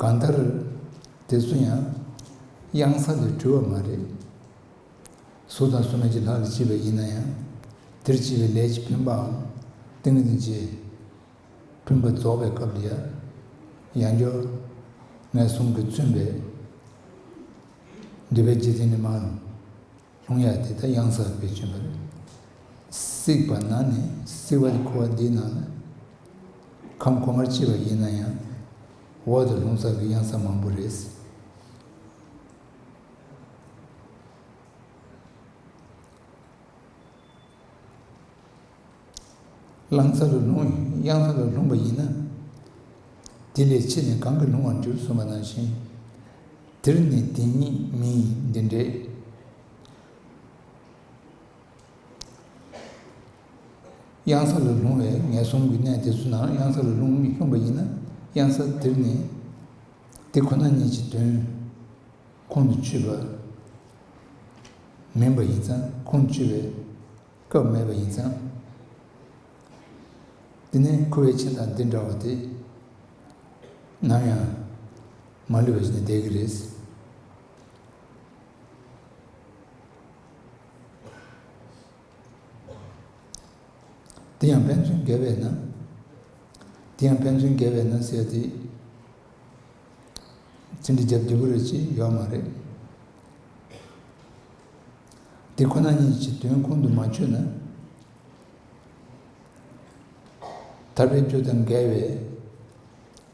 གང་ལྟར། དེ་ཚོ་ཡང་གཡང་ས་ལས་གྲོལ་བ་མ་རེད། གཟུགས་དང་གཟུགས་མེད་ཀྱི་ལྷ་ལ་སྐྱེས་པ་ཡིན་ན་ཡང། དེར་སྐྱེས་པའི་ལས་ཀྱི་འཕེན་པའམ་ཏིང་ངེ་འཛིན་གྱིས། འཕེན་པ་རྫོགས་པའི་སྐབས་ལ་ཡང་འགྱུར། ངན་སོང་གིས་མཚོན་པའི་འདོད་པའི་རྒྱུ་མཚན་ནི་མང། ལྷུང་ཡ་དེ་ད་གཡང་སར་བེད་སྤྱོད་པར་སྲིད་པ་ན་ནི་སྲིད་བ་ལས་འཁོར་བ་འདིའི་ནང་ན་ཁམས་གོང་མར་མཆིས་པ་ཡིན་ན་ཡང་འོག་ཏུ་ལྷུང་བཟང་གི་གཡང་ས་མང་པོ་རེད། རླངས་ཚ་རུ་ལྷུང་གཡང་ཚ་རུ་ལྷུང་བ་ཡིན་ན། དེ་ལས་ཕྱི་ནས་གང་གིས་ལྷུང་བར་འགྱུར་གསུངས་པ་ནང་བཞིན། འདིར་ནི་འདི་ཉིད་མི་ཡི་འདི་འདྲའི། གཡང་ས་རུ་ལྷུང་བའི་ངན་སོང་གི་གནས་དེ་ཚོ་ནང་གཡང་ས་རུ་ལྷུང་ལྷུང་བ་ཡིན་ན་གཡང་ས་དེར་ནི། དེ་ཁོ་ན་ཉིད་ཀྱི་དོན། ཁོང་དུ་ཆུད་པ། མིན་པ་ཡིན་ཙང་ཁོང་དུ་ཆུད་པའི། སྐབས་མེད་པ་ཡིན་ཙང། འདི་ནི་ཁུ་བའི་ཆིངས་དང་འདི་འདྲ་བ་དེ། ནམ་ཡང། མ་ལུས་པ་ཞིག་ནི་བསྡད་ཀྱི་རེད། འདི་ཡང་ཕན་ཚུན་འགལ་བས་ན། འདི་ཡང་ཕན་ཚུན་འགལ་བས་ན་ཟེར་དེ། ཚིག་འདི་རྒྱབ་བདུད་པོ་རེད་ཅེས་ཡོད་མ་རེད། འདི་ཁོ་ན་ཉིད་ཀྱི་དོན་ཁོང་དུ་མ་ཆུད་ན། ཐར་པའི་རྒྱུ་དང་འགལ་བས།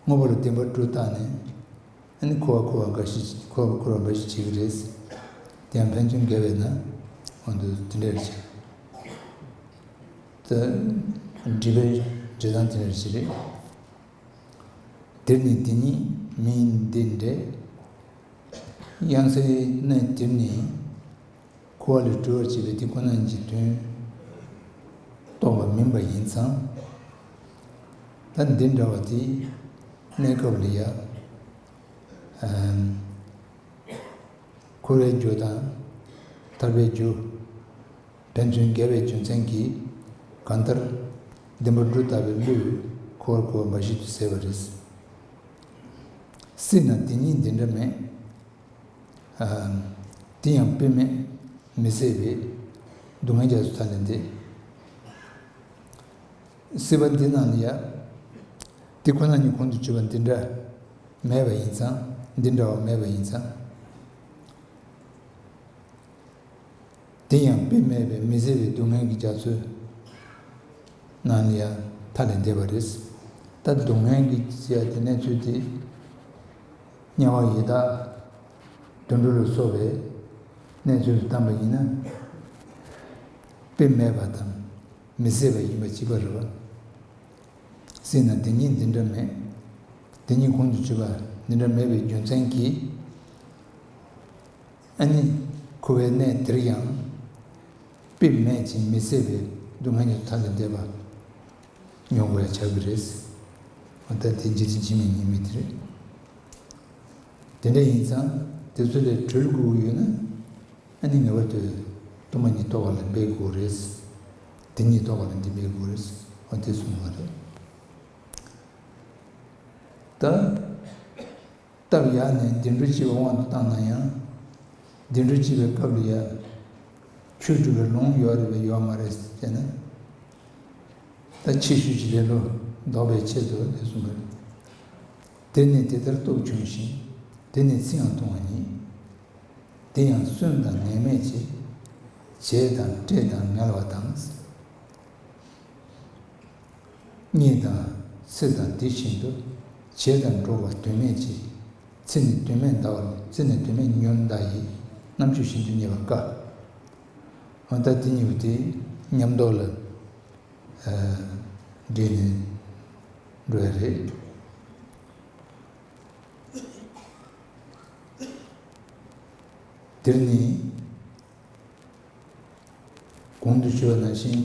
དངོས་པོ་ལ་བདེན་པ་དྲུག་བཏགས་ནས། ཨ་ནི་འཁོར་བ་འཁོར་བ་འགའ་ཞིག་འཁོར་བ་འཁོར་བ་འགའ་ཞིག་བྱེད་ཀྱི་རེད། དེ་ཡང་ཕན་ཚུན་འགལ་བས་ན། གོང་དུ་དེ་འདྲར་བྱས། ད་སྒྲིབ་པའི་འབྲས་དང་དེ་འདྲར་བྱེད་རེད། དེར་ནི་དེ་ཉིད་མི་འདི་འདྲའི། དབྱངས་གསལ་གནས་དེར་ནི། ཁུ་བ་ལས་གྲོལ་བར་བྱེད་པའི་དེ་ཁོ་ན་ཉིད་ཀྱི་དོན། རྟོགས་པ་མིན་པ་ཡིན་ཙང། ད་འདི་འདྲ་བ་དེ་གནས་སྐབས་ལ་ཡང། ཁུ་བའི་རྒྱུ་དང་ཐར་པའི་རྒྱུ། ཕན་ཚུན་འགལ་བའི་རྒྱུ་མཚན་གྱིས། གང་ལྟར། ལྡེམ་པོ་འབྲུ་ལྟ་བུའི་གླུས། ཁོ་བོར་ཁོ་བོ་འབའ་ཞིག་ཏུ་ཟེར་བར་རིགས། སྲིད་ན་དེ་གཉིས་འདི་འདྲ་མེད། དེ་ཡང་དཔེ་མེད་མི་ཟེར་བས། སྡུག་བསྔལ་རྒྱ་མཚོ་མཐའ་ནས་འདས། སྲིད་པ་འདི་རྣམས་ནི་ཡང། དེ་ཁོ་ན་ཉིད་ཁོང་དུ་ཆུད་པ་འདི་འདྲ། མེད་པ་ཡིན་ཙང་འདི་འདྲ་བ་མེད་པ་ཡིན་ཙང། དེ་ཡང་དཔེ་མེད་པའི་མི་བཟད་པའི་སྡུག་བསྔལ་གྱི་རྒྱ་མཚོའི་ནང་ནས་ཡང་མཐའ་ལས་འདས་པ་རེད། ད་སྡུག་བསྔལ་གྱི་རྒྱ་དེ་གནས་ཚུལ་དེ་དམྱལ་བ་ཡི་དྭགས་དུད་འགྲོ་ལ་སོགས་པའི་གནས་ཚུལ་དུ་བལྟམས་པ་ཡིན་ན། དཔེ་མེད་པ་དང་མི་བཟད་པ་ཡིན་པ་ཅི་པར་རེ་བ་སྲིད་ན་དེ་གཉིས་འདི་འདྲ་མེད། དེ་གཉིས་ཁོང་དུ་ཆུད་པ་འདི་འདྲ་མེད་པའི་རྒྱུ་མཚན་གྱིས། ཨ་ནི། ཁུ་བའི་གནས་འདིར་ཡང། དཔེ་མེད་ཅིང་མི་གསལ་བའི་སྡུག་བསྔལ་ཉོ་ཐག་ལས་འདས་པ་མྱོང་བར་བྱ་གི་རེད། ད་དེ་ཇི་ལྟར་འབྱིན་མིན་ཉེས་མེད་དེ་རེད། དེ་འདྲ་ཡིན་ཙང་དེ་ཚོ་ལས་གྲོལ་དགོས་ཀྱི་ཡོད་ན། ཨ་ནི་ངེས་པར་དུ་གཏོར་མ་ཉིད་གཏོར་བ་ལ་འབད་དགོས་ཀྱི་རེད། འདི་ཉིད་གཏོར་བ་ལ་འདི་འབད་དགོས་ཀྱི་རེད། འོ་དེ་སོང་བ་རེད། ད། སྟབས་ཡག་ནས་བདེ་འགྲོ་སྤྱི་བའི་དབང་དུ་བཏང་ན་ཡང། བདེ་འགྲོ་སྤྱི་བའི་སྐབས་ལ་ཡང། ཆོས་སྒྲུབ་པའི་ལུང་ཡོད་རེད་པས་ཡོད་མ་རེད་ཟེར་ན། ད་ཕྱི་ཤོས་ཀྱི་ལེ་ལོ་ལྡོག་པའི་ཆེད་དུ་ལས་གསུངས་པ་རེད། དེ་ནས་དེ་ལྟར་སྟོབས་ཆུང་ཞིང་དེ་ནས་ཚིག་ཡང་ཐུང་བ་ཉིད། འདི་ཡང་གསོན་དང་ངན་སྨྲས་བྱེད། བྱས་དང་སྤྲད་དང་ངལ་བ་དང། གཉིད་དང། ཚེ་དང་དེ་བཞིན་དུ། བྱེད་དང་འགྲོ་བ་དོན་མེད་ཅེས། ཚེ་ནི་དོན་མེད་འདའ་བ་ལས་ཚེ་ནི་དོན་མེད་ཉོན་འདའ་ཡི། རྣམ་དཔྱོད་བཞིན་དུ་ཉེ་བར་དཀའ། འོན་ཏེ་དེ་གཉིས་པོ་དེ་ཉམས་རྟོགས་ལ། འདྲེས་ནས་འགྲོ་བས་རེད། འདིར་ནི། གོང་དུ་ཞུ་བ་ནང་བཞིན།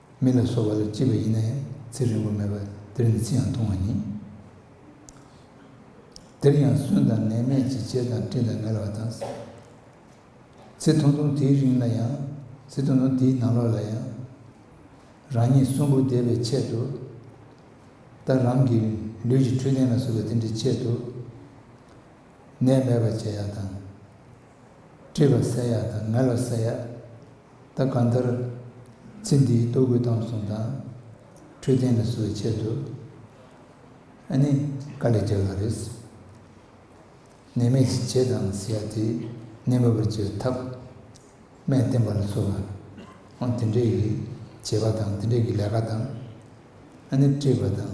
མི་ལ་སོགས་པ་ལ་སྐྱིད་པ་ཡིན་ན་ཡང་ཚེ་རིང་པོ་མེད་པར་འདིར་ནི་ཅི་ཡང་ཐུང་བ་ཉིད། འདིར་ཡང་གསོན་དང་ནད་མེད་ཅིག་བྱེད་དང་སྤྲིན་དང་ངལ་བ་དང། ཚེ་ཐུང་ཐུང་དེའི་རིང་ལ་ཡང། ཚེ་ཐུང་ཐུང་དེའི་ནང་ལོགས་ལ་ཡང། རང་ཉིད་གསོན་པོར་བསྡད་པའི་ཆེད་དུ། ལྟར་རང་གི་ལུས་ཀྱི་འཕྲོད་བསྟེན་ལ་གཟུགས་པ་དེ་འདྲའི་ཆེད་དུ། ནད་མེད་པར་བྱེད་ཡག་དང། མཁྲིས་པ་བསལ་ཡག་དང་ངལ་བ་བསལ་ཡག། ད་གང་ལྟར། ཚེ་འདིའི་ལྟོ་གོས་བཏང་སོང་དང། འཕྲོད་བསྟེན་ལ་བཟོ་བའི་ཆེད་དུ། ཨ་ནི་དཀའ་ལས་བརྒྱབ་ཡོད་རེད། ནད་མེད་ཅིག་བྱེད་དང་ཟེར་ཡག་དེས་ནད་མེད་པར་བྱེད་པའི་ཐབས། སྨན་བསྟེན་པ་ལ་བཟོ་བ། ཨང་དེ་འདྲས་ཀྱི་བྱེད་པ་དང་དེ་འདྲས་ཀྱི་ལས་ཀ་དང། ཨ་ནི་མཁྲིས་པ་དང།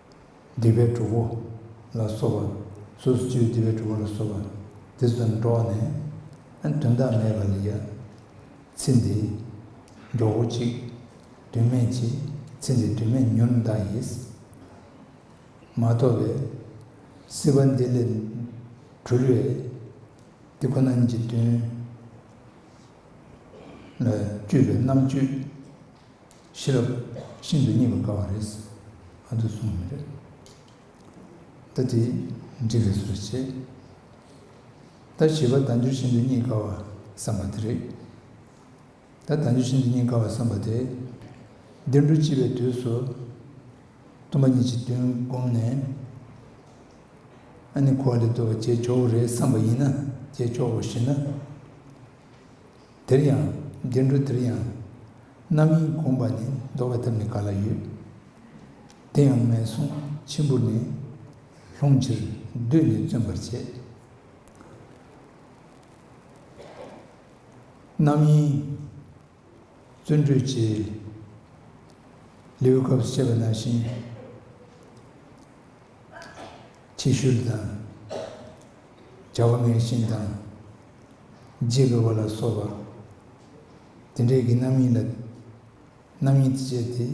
སྡིག་པའི་གྲོགས་པོ་ལ་སོགས་པ། སོ་སོ་སྤྱིའི་སྡིག་པའི་གྲོགས་པོ་ལ་སོགས་པ། དེ་ཚོ་དང་འགྲོགས་ནས། དོན་དག་མེད་པ་ལ་ཡ། ཚེ་འདི། མགྱོགས་པོ་གཅིག། དུས་མེད་ཅིག། ཚེ་འདི་དུས་མེད་མྱུར་འདའ་ཡིས། མ་ཐོབ་བས། སྲིད་པ་འདི་ལས། གྲོལ་བས། འདི་ཁོ་ན་ཉིད་ཀྱི་དོན། ལ་སྤྱོད་པའི་རྣམ་དཔྱོད། ཤེས་རབ་ཤིན་ཏུ་རྙེད་པར་དཀའ་བ་རེད་ཟེར། ང་ཚོས་གསུང་གི་རེད། ད་དེ་འགྲིག་རེད་ཟེར་བྱས། ད་བྱིས་པ་དལ་འབྱོར་ཤིན་ཏུ་རྙེད་དཀའ་བ་བསམ་པ་དེ་རེད། ད་དལ་འབྱོར་ཤིན་ཏུ་རྙེད་དཀའ་བ་བསམ་པ་དེ། འདིར་འགྲོ་ལྕི་བའི་དུས་སུ། སྟོན་པ་ཉིད་ཀྱི་དོན་བསྒོམས་ནས། ཨ་ནི་གོ་བ་ལས་བརྟོལ་བ་བྱས་ཆོག་གི་རེད་བསམ་པ་ཡིན་ན་བྱས་ཆོག་གོ་ཞེ་ན། དེར་ཡང་རྒྱན་དྲུག་དེར་ཡང། རྣམ་གཡེང་བསྒོམ་པ་ནི་བཟློག་པའི་ཐབས་ནི་ག་ལ་ཡོད། དེ་ཡང་ངན་སོང་ཆེན་པོར་ནི། ལྷུང་ཕྱིར་བདུད་ནི་བརྩོན་པར་བྱེད། རྣམ་གཡེང། བརྩོན་འགྲུས་ཀྱི། ལེའུའི་སྐབས་སུ་བཤད་པ་ནང་བཞིན། ཕྱི་ཤུན་དང། བྱ་བ་ངན་ཤིང་དང། རྗེས་དགའ་བ་ལ་སོགས་པ། དེ་འདྲའི་གྱི་རྣམ་གཡེང་ལ། རྣམ་གཡེང་དུ་བྱས་ཏེ།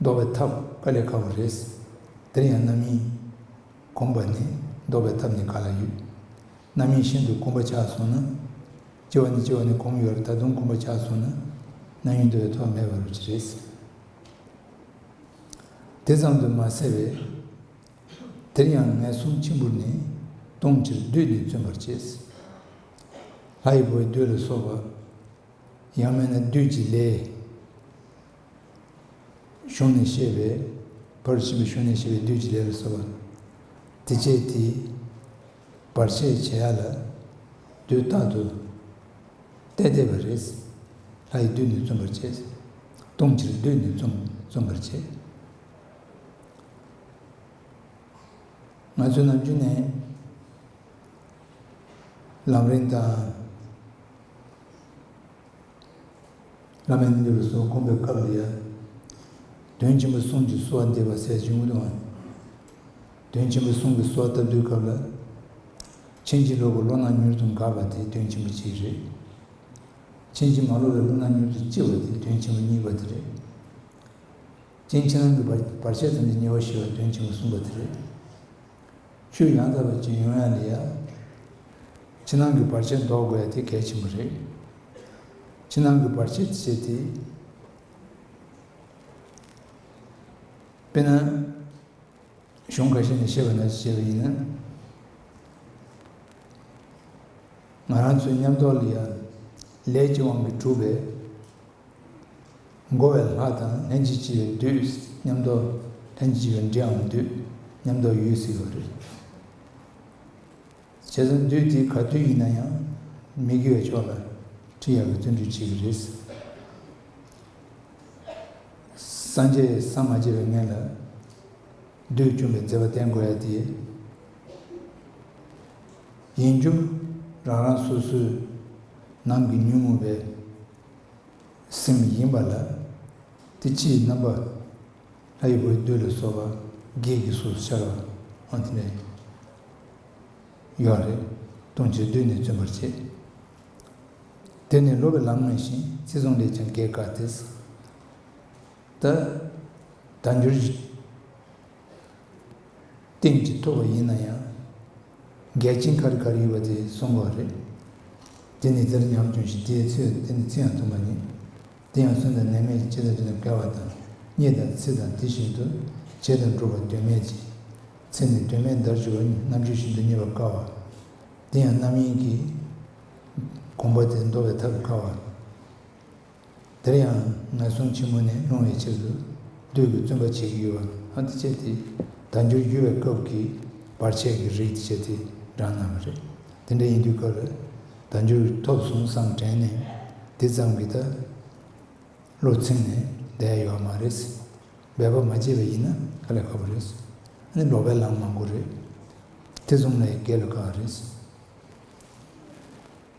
བཟློག་པའི་ཐབས་ཀ་ལས་ཁག་པོ་རེད། འདིར་ཡང་རྣམ་གཡེང། གོམས་པ་ནི་བཟློག་པའི་ཐབས་ནི་ག་ལ་ཡོད། རྣམ་གཡེང་ཤིན་ཏུ་གོམས་པ་ཆགས་སོང་ན། ལྕི་བ་ནི་ལྕི་བ་ནི་གོམས་ཡོད་ལ་ད་དུང་གོམས་པ་ཆགས་སོང་ན། རྣམ་གཡེང་དུ་བའི་ཐོག་མེད་པ་རུ་ཅི་རེད། དེ་ཙམ་དུ་མ་ཟད་པས། དེར་ཡང་ངན་སོང་གཅིག་འབུར་ནས་སྟོང་ཕྱིར་བདུད་འདི་བརྩོན་པར་བྱས། ལྷ་ཡི་བུ་བདུད་ལ་སོགས་པ། ཡང་མེད་ན་བདུད་ཀྱི་ལས། གཞུང་ནས་བཤད་པའི། བར་གྱི་བྱིན་པ་གཞུང་ནས་བཤད་པའི་བདུད་ཀྱི་ལས་ལ་སོགས་པ། དེ་སྐྱེས་དེས། བར་ཆད་བྱེད་ཡ་ལ། དུས་རྟག་ཏུ། བལྟས་བལྟས་པར་རེས། ལྷ་ཡི་བདུད་ནི་བཙུམ་པར་བྱེད། ལྟུང་ཕྱིར་བདུད་ནི་བཙུམ་བཙུམ་པར་བྱེད། ང་ཚོས་ནམ་རྒྱུན་ནས། ལམ་རིང་དང། བླ་མའི་གནས་ལུགས་སོགས་སྒོམ་པའི་སྐབས་ལ་ཡང། དོན་ཆེན་པོ་གསུམ་གྱི་གསོལ་བ་འདེབས་པར་ཟད་ཅིང་དབུལ་བའམ། དོན་ཆེན་པོ་གསུམ་གྱི་གསོལ་བ་བཏབ་དུས་སྐབས་ལ། ཕྱིན་ཅི་ལོག་གི་བློ་སྣང་མྱུར་དུ་འགགས་པ་དེ་དོན་ཆེན་པོ་གཅིག་རེད། ཕྱིན་ཅི་མ་ལོག་པའི་བློ་སྣང་མྱུར་དུ་སྐྱེ་བ་དེ་དོན་ཆེན་པོ་གཉིས་པ་དེ་རེད། སྐྱེ་འཆི་སྣང་གི་བར་ཆད་ཙམ་གྱི་ཉེས་པ་ཞི་བ་དོན་ཆེན་པོ་གསུམ་པ་དེ་རེད། ཆུ་ཡང་དག་པའི་སྤྱི་ཡོངས་ཡང་ལི་ཡ། ཕྱི་ནང་གི་བར་ཆད་བཟློག་དགོས་དེ་གལ་ཆེན་པོ་རེད། ཕྱི་ནང་གི་བར་ཆད་ཟེར་དེ། དཔེར་ན། གཞུང་ག་ཤེད་ནས་བཤད་པ་ན་བཤད་པ་ཡིན་ན། ང་རང་ཚོའི་ཉམས་རྟོགས་ལི་ཡ། ལས་ཀྱི་དབང་གིས་གྲུབ་པའི། འགོ་བའི་ལྷ་དང་ལྷན་ཅིག་སྐྱེས་པའི་བདུད་ཉམས་རྟོགས། ལྷན་ཅིག་སྐྱེས་པའི་འདྲེའམ་བདུད་ཉམས་རྟོགས་ཡོད་སྲིད་པ་རེད། བྱས་ཙང་བདུད་དེ་ག་བདུད་ཡིན་ན་ཡང་མི་དགེ་བའི་ཕྱོགས་ལ་ཁྲིད་ཡག་གི་བརྩོན་འགྲུས་བྱེད་ཀྱི་རེད། སངས་རྒྱས་སམ་མ་སྐྱེས་པའི་མཁན་ལ་བདུད་བཅོམ་པའི་མཛད་པ་བསྟན་དགོས་ཡ་དེ་ཡིན་རྒྱུ་རང་རང་སོ་སོའི་ནང་གི་ཉོན་མོངས་པའི་སེམས་ཡིན་པ་ལ། དེ་ཕྱིའི་རྣམ་པ། ལྷ་ཡི་བུ་བདུད་ལ་སོགས་པ་བགེགས་ཀྱིས་སོགས་སུ་ཤར་བ། འོན་ཏེ། ཡོད་རེ། ལྟུང་བྱེད་བདུད་ནི་བརྩོན་པར་བྱེད། དེ་ནི་སློབ་པའི་ལམ་མངོན་ཞིང་རྩིས་བཟུང་ལས་ཀྱང་བགེགས་བཀག་སྟེ། ད། ད་འགྱུར། སྟེང་གཅིག་ཐུབ་པ་ཡིན་ན་ཡང། འགལ་རྐྱེན་ག་རེ་ག་རེ་ཡོད་པ་དེ་གསུངས་པ་རེད། དེ་ནི་དེར་ཉམས་ཆུང་ཞིང་དེའི་ཚེ་དེ་ནི་ཚིག་ཡང་ཐུང་བ་ཡིན། དེ་ཡང་སུན་དང་ནད་མེད་ཀྱི་བྱེད་ཐབས་དེ་ལ་འགལ་བ་དང་གཉིས་དང་ཚིག་དང་དེ་བཞིན་དུ་བྱེད་དང་སྒྲུབ་པ་དོན་མེད་ཅིང། ཚེ་ནི་དོན་མེད་འདར་གྱི་བ་རྣམས་ཆུ་བཞིན་དུ་རྙེད་པར་དཀའ་བ། དེ་ཡང་རྣམ་གཡེང་གིས། དགོངས་པ་དེ་འདོར་བའི་ཐབས་དཀའ་བ། དེར་ཡང་ངན་སོང་ཆེན་མོ་ནས་སློང་བའི་ཕྱིར་དུ་བདུད་ཀྱི་བཙུན་པ་བྱེད་ཀྱི་ཡོད་པ་ཨ་ཏི་བྱེད་དེ། དལ་འབྱོར་རྒྱུ་བའི་སྐབས་ཀྱི་བར་ཆད་ཀྱི་རིགས་དེ་བྱེད་དེ་འདྲ་སྣང་བ་རེད། དེ་འདྲ་ཡིན་དུས་སྐབས་ལ་དལ་འབྱོར་ཐོབ་སོང་བསམ་དྲན་ནས་འདི་ཙམ་གྱི་ད་བློ་ཚིམ་ནས་བསྡད་ཡོད་མ་རེད། འབད་པ་མ་བྱས་པ་ཡིན་ན་ཁ་ལས་ཁ་པོ་རེད། ནི་ལོག་པའི་ལམ་མང་པོ་རེད། དེ་གསུམ་ལས་བརྒལ་བའི་ཀ་བ་རེད།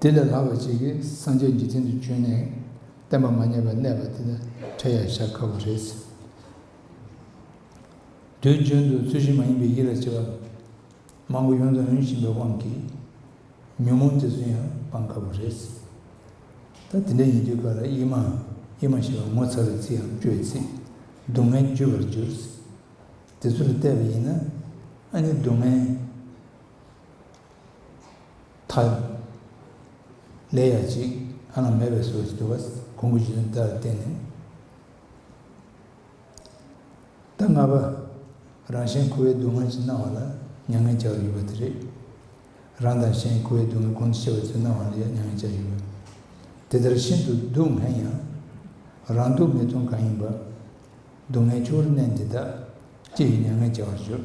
དེ་ལས་ལྷག་པ་གཅིག་གིས་སངས་རྒྱས་འཇིག་རྟེན་དུ་བྱོན་ནས་བསྟན་པ་མ་རྙེད་པར་གནས་པ་དེ་ལ་ཁྲེལ་ཡ་བཞག་ཁག་པོ་རེད། དུས་རྒྱུན་དུ་ཚུལ་བཞིན་མ་ཡིན་པའི་ཡིད་ལ་བྱེད་པ་མང་པོ་ཡོངས་སུ་འོན་བཞིན་པའི་དབང་གིས་ཉོན་མོངས་དེ་ཚོ་ཡང་སྤང་ཁག་པོ་རེད། ད་དེ་འདྲ་ཡིན་དུས་ག་ལ་ཡིད་མ་ཡིད་མ་ཞེས་པ་ངོ་ཚ་བའི་ཚིག་འམ་སྐྱོའི་ཚིག་སྡུག་བསྔལ་བརྗོད་པར་འགྱུར། དེ་ཚོ་ལ་བལྟས་པ་ཡིན་ན་ཨ་ནི་སྡུག་བསྔལ། མཐའ་ཡས། ལས་ཡ་གཅིག་ཨ་ལ་མེད་པའི་སོགས་ཀྱི་འགྱུར་བ་གོང་གི་རྗོད་བྱེད་ལྟར་བསྟན་ནས། ཟླ་ལྔ་པ། རང་གཞན་ཁུ་བའི་སྡུག་བསྔལ་གྱིས་སྣང་བ་ལ་མྱ་ངན་བྱ་བར་གྱུར་པ་དེ་རེད། རང་དང་གཞན་ཁུ་བའི་སྡུག་བསྔལ་ཀུན་ཏུ་ཤེས་པ་ཚོས་སྣང་བ་ལ་ཡང་མྱ་ངན་བྱ་ཡི་ཡོད། དེ་ལྟར་ཤིན་ཏུ་སྡུག་བསྔལ་ཡང། རང་སྡུག་བསྔལ་མཐོང་གང་ཡིན་པ། སྡུག་བསྔལ་ཆུ་བོར་མནན་དེ་དག། ཅི་ཡི་མྱ་ངན་བྱ་བར་གྱུར།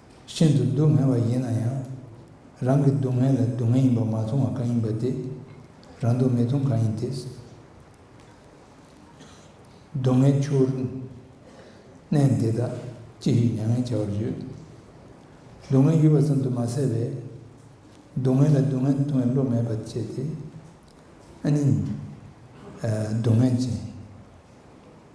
ཤིན་ཏུ་སྡུག་བསྔལ་བ་ཡིན་ན་ཡང། རང་གི་སྡུག་བསྔལ་ལ་སྡུག་བསྔལ་ཡིན་པ་མ་མཐོང་བ་གང་ཡིན་པ་དེ། རང་སྡུག་བསྔལ་མཐོང་གང་ཡིན་དེ། སྡུག་བསྔལ་ཆུ་བོར་གནས། འདི་དག་ཅི་ཞིག་མྱ་ངན་བྱ་བར་བརྗོད། སྡུག་བསྔལ་ཡུལ་བ་ཙམ་དུ་མ་ཟད་པའི། སྡུག་བསྔལ་ལ་སྡུག་བསྔལ་མཐོང་བའི་བློ་མེད་པར་བྱས་ཏེ། ཨ་ནི། སྡུག་བསྔལ་ཅན།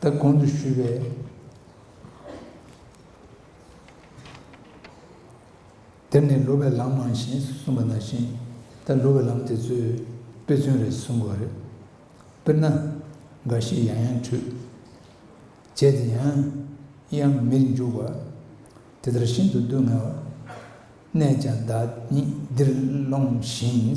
ད་གོང་དུ་ཞུས་པའི། དེར་ནི་ལུས་པའི་ལམ་མང་ཞེས་གསུངས་པ་ན་བཞིན་ད་ལུས་པའི་ལམ་དེ་ཚོའི་དཔེ་མཚོན་རེ་གསུངས་དགོས་རེད། དཔེར་ན། འགའ་ཞིག་ཡང་ཡང་ཁྲུས། བྱས་ཏེ་ཡང། ཡང་མིར་འཇུག་པ། དེ་ལྟར་ཤིན་ཏུ་སྡུག་བསྔལ་བ། ནས་ཀྱང་བདག་ཉིད་འདིར་སློང་ཞིང།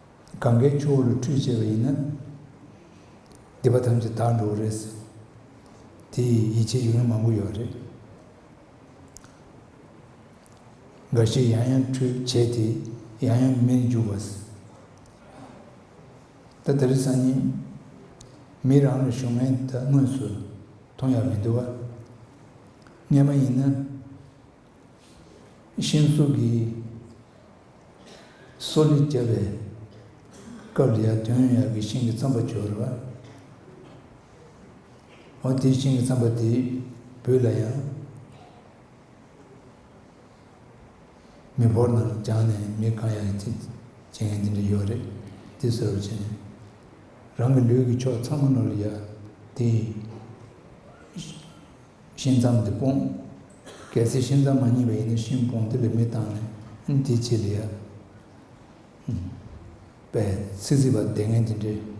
གངྒཱའི་ཆུ་བོ་ལ་ཁྲུས་བྱས་པ་ཡིན་ན། སྡིག་པ་ཐམས་ཅད་དག་འགྲོ་བ་རེད་ཟེར། དེ་ཡི་ཡིད་ཆེས་ཡུལ་མི་མང་པོ་ཡོད་རེད། འགའ་ཞིག་ཡང་ཡང་ཁྲུས་བྱས་དེ་ཡང་ཡང་མེར་འཇུག་པ་ཟེར། ད་ད་རི་སང་ཉིན་མི་རང་ལ་ཞུགས་མེད་ད་དངོས་སུ་མཐོང་ཡག་མི་འདུག་ཨ། རྔན་མ་ཡིན་ན། ཤིང་གཟུགས་ཀྱི་སོ་ལས་སྐྱ་བའི། སྐབས་ལ་ཡང་དོན་ཡར་གྱི་ཤིང་གི་རྩམ་པ་སྦྱོར་བ། འོ་དེའི་ཤིང་གི་རྩམ་པ་དེ་བུས་ལ་ཡང། མི་བོར་ནང་བརྒྱངས་ནས་མི་གང་ཡང་ཅི་བྱེད་ངན་འདི་འདྲ་ཡོད་རེད་འདི་ཟེར་བར་བྱས་ནས། རང་གི་ལུས་ཀྱི་ཕྱོགས་ཚང་མ་ནོར་ཡ་དེ། ཤིང་མཚམས་འདི་སྤོངས། གལ་སྲིད་ཤིང་མཚམས་མ་རྙེད་པ་ཡིན་ན་ཤིང་སྤོངས་འདི་ལས་མི་བཏང་ནས་འདི་བྱེད་ལ་ཡག། པས་ཚིག་རྩིས་པ་བདེ་ངན་གྱི་འབྲེལ།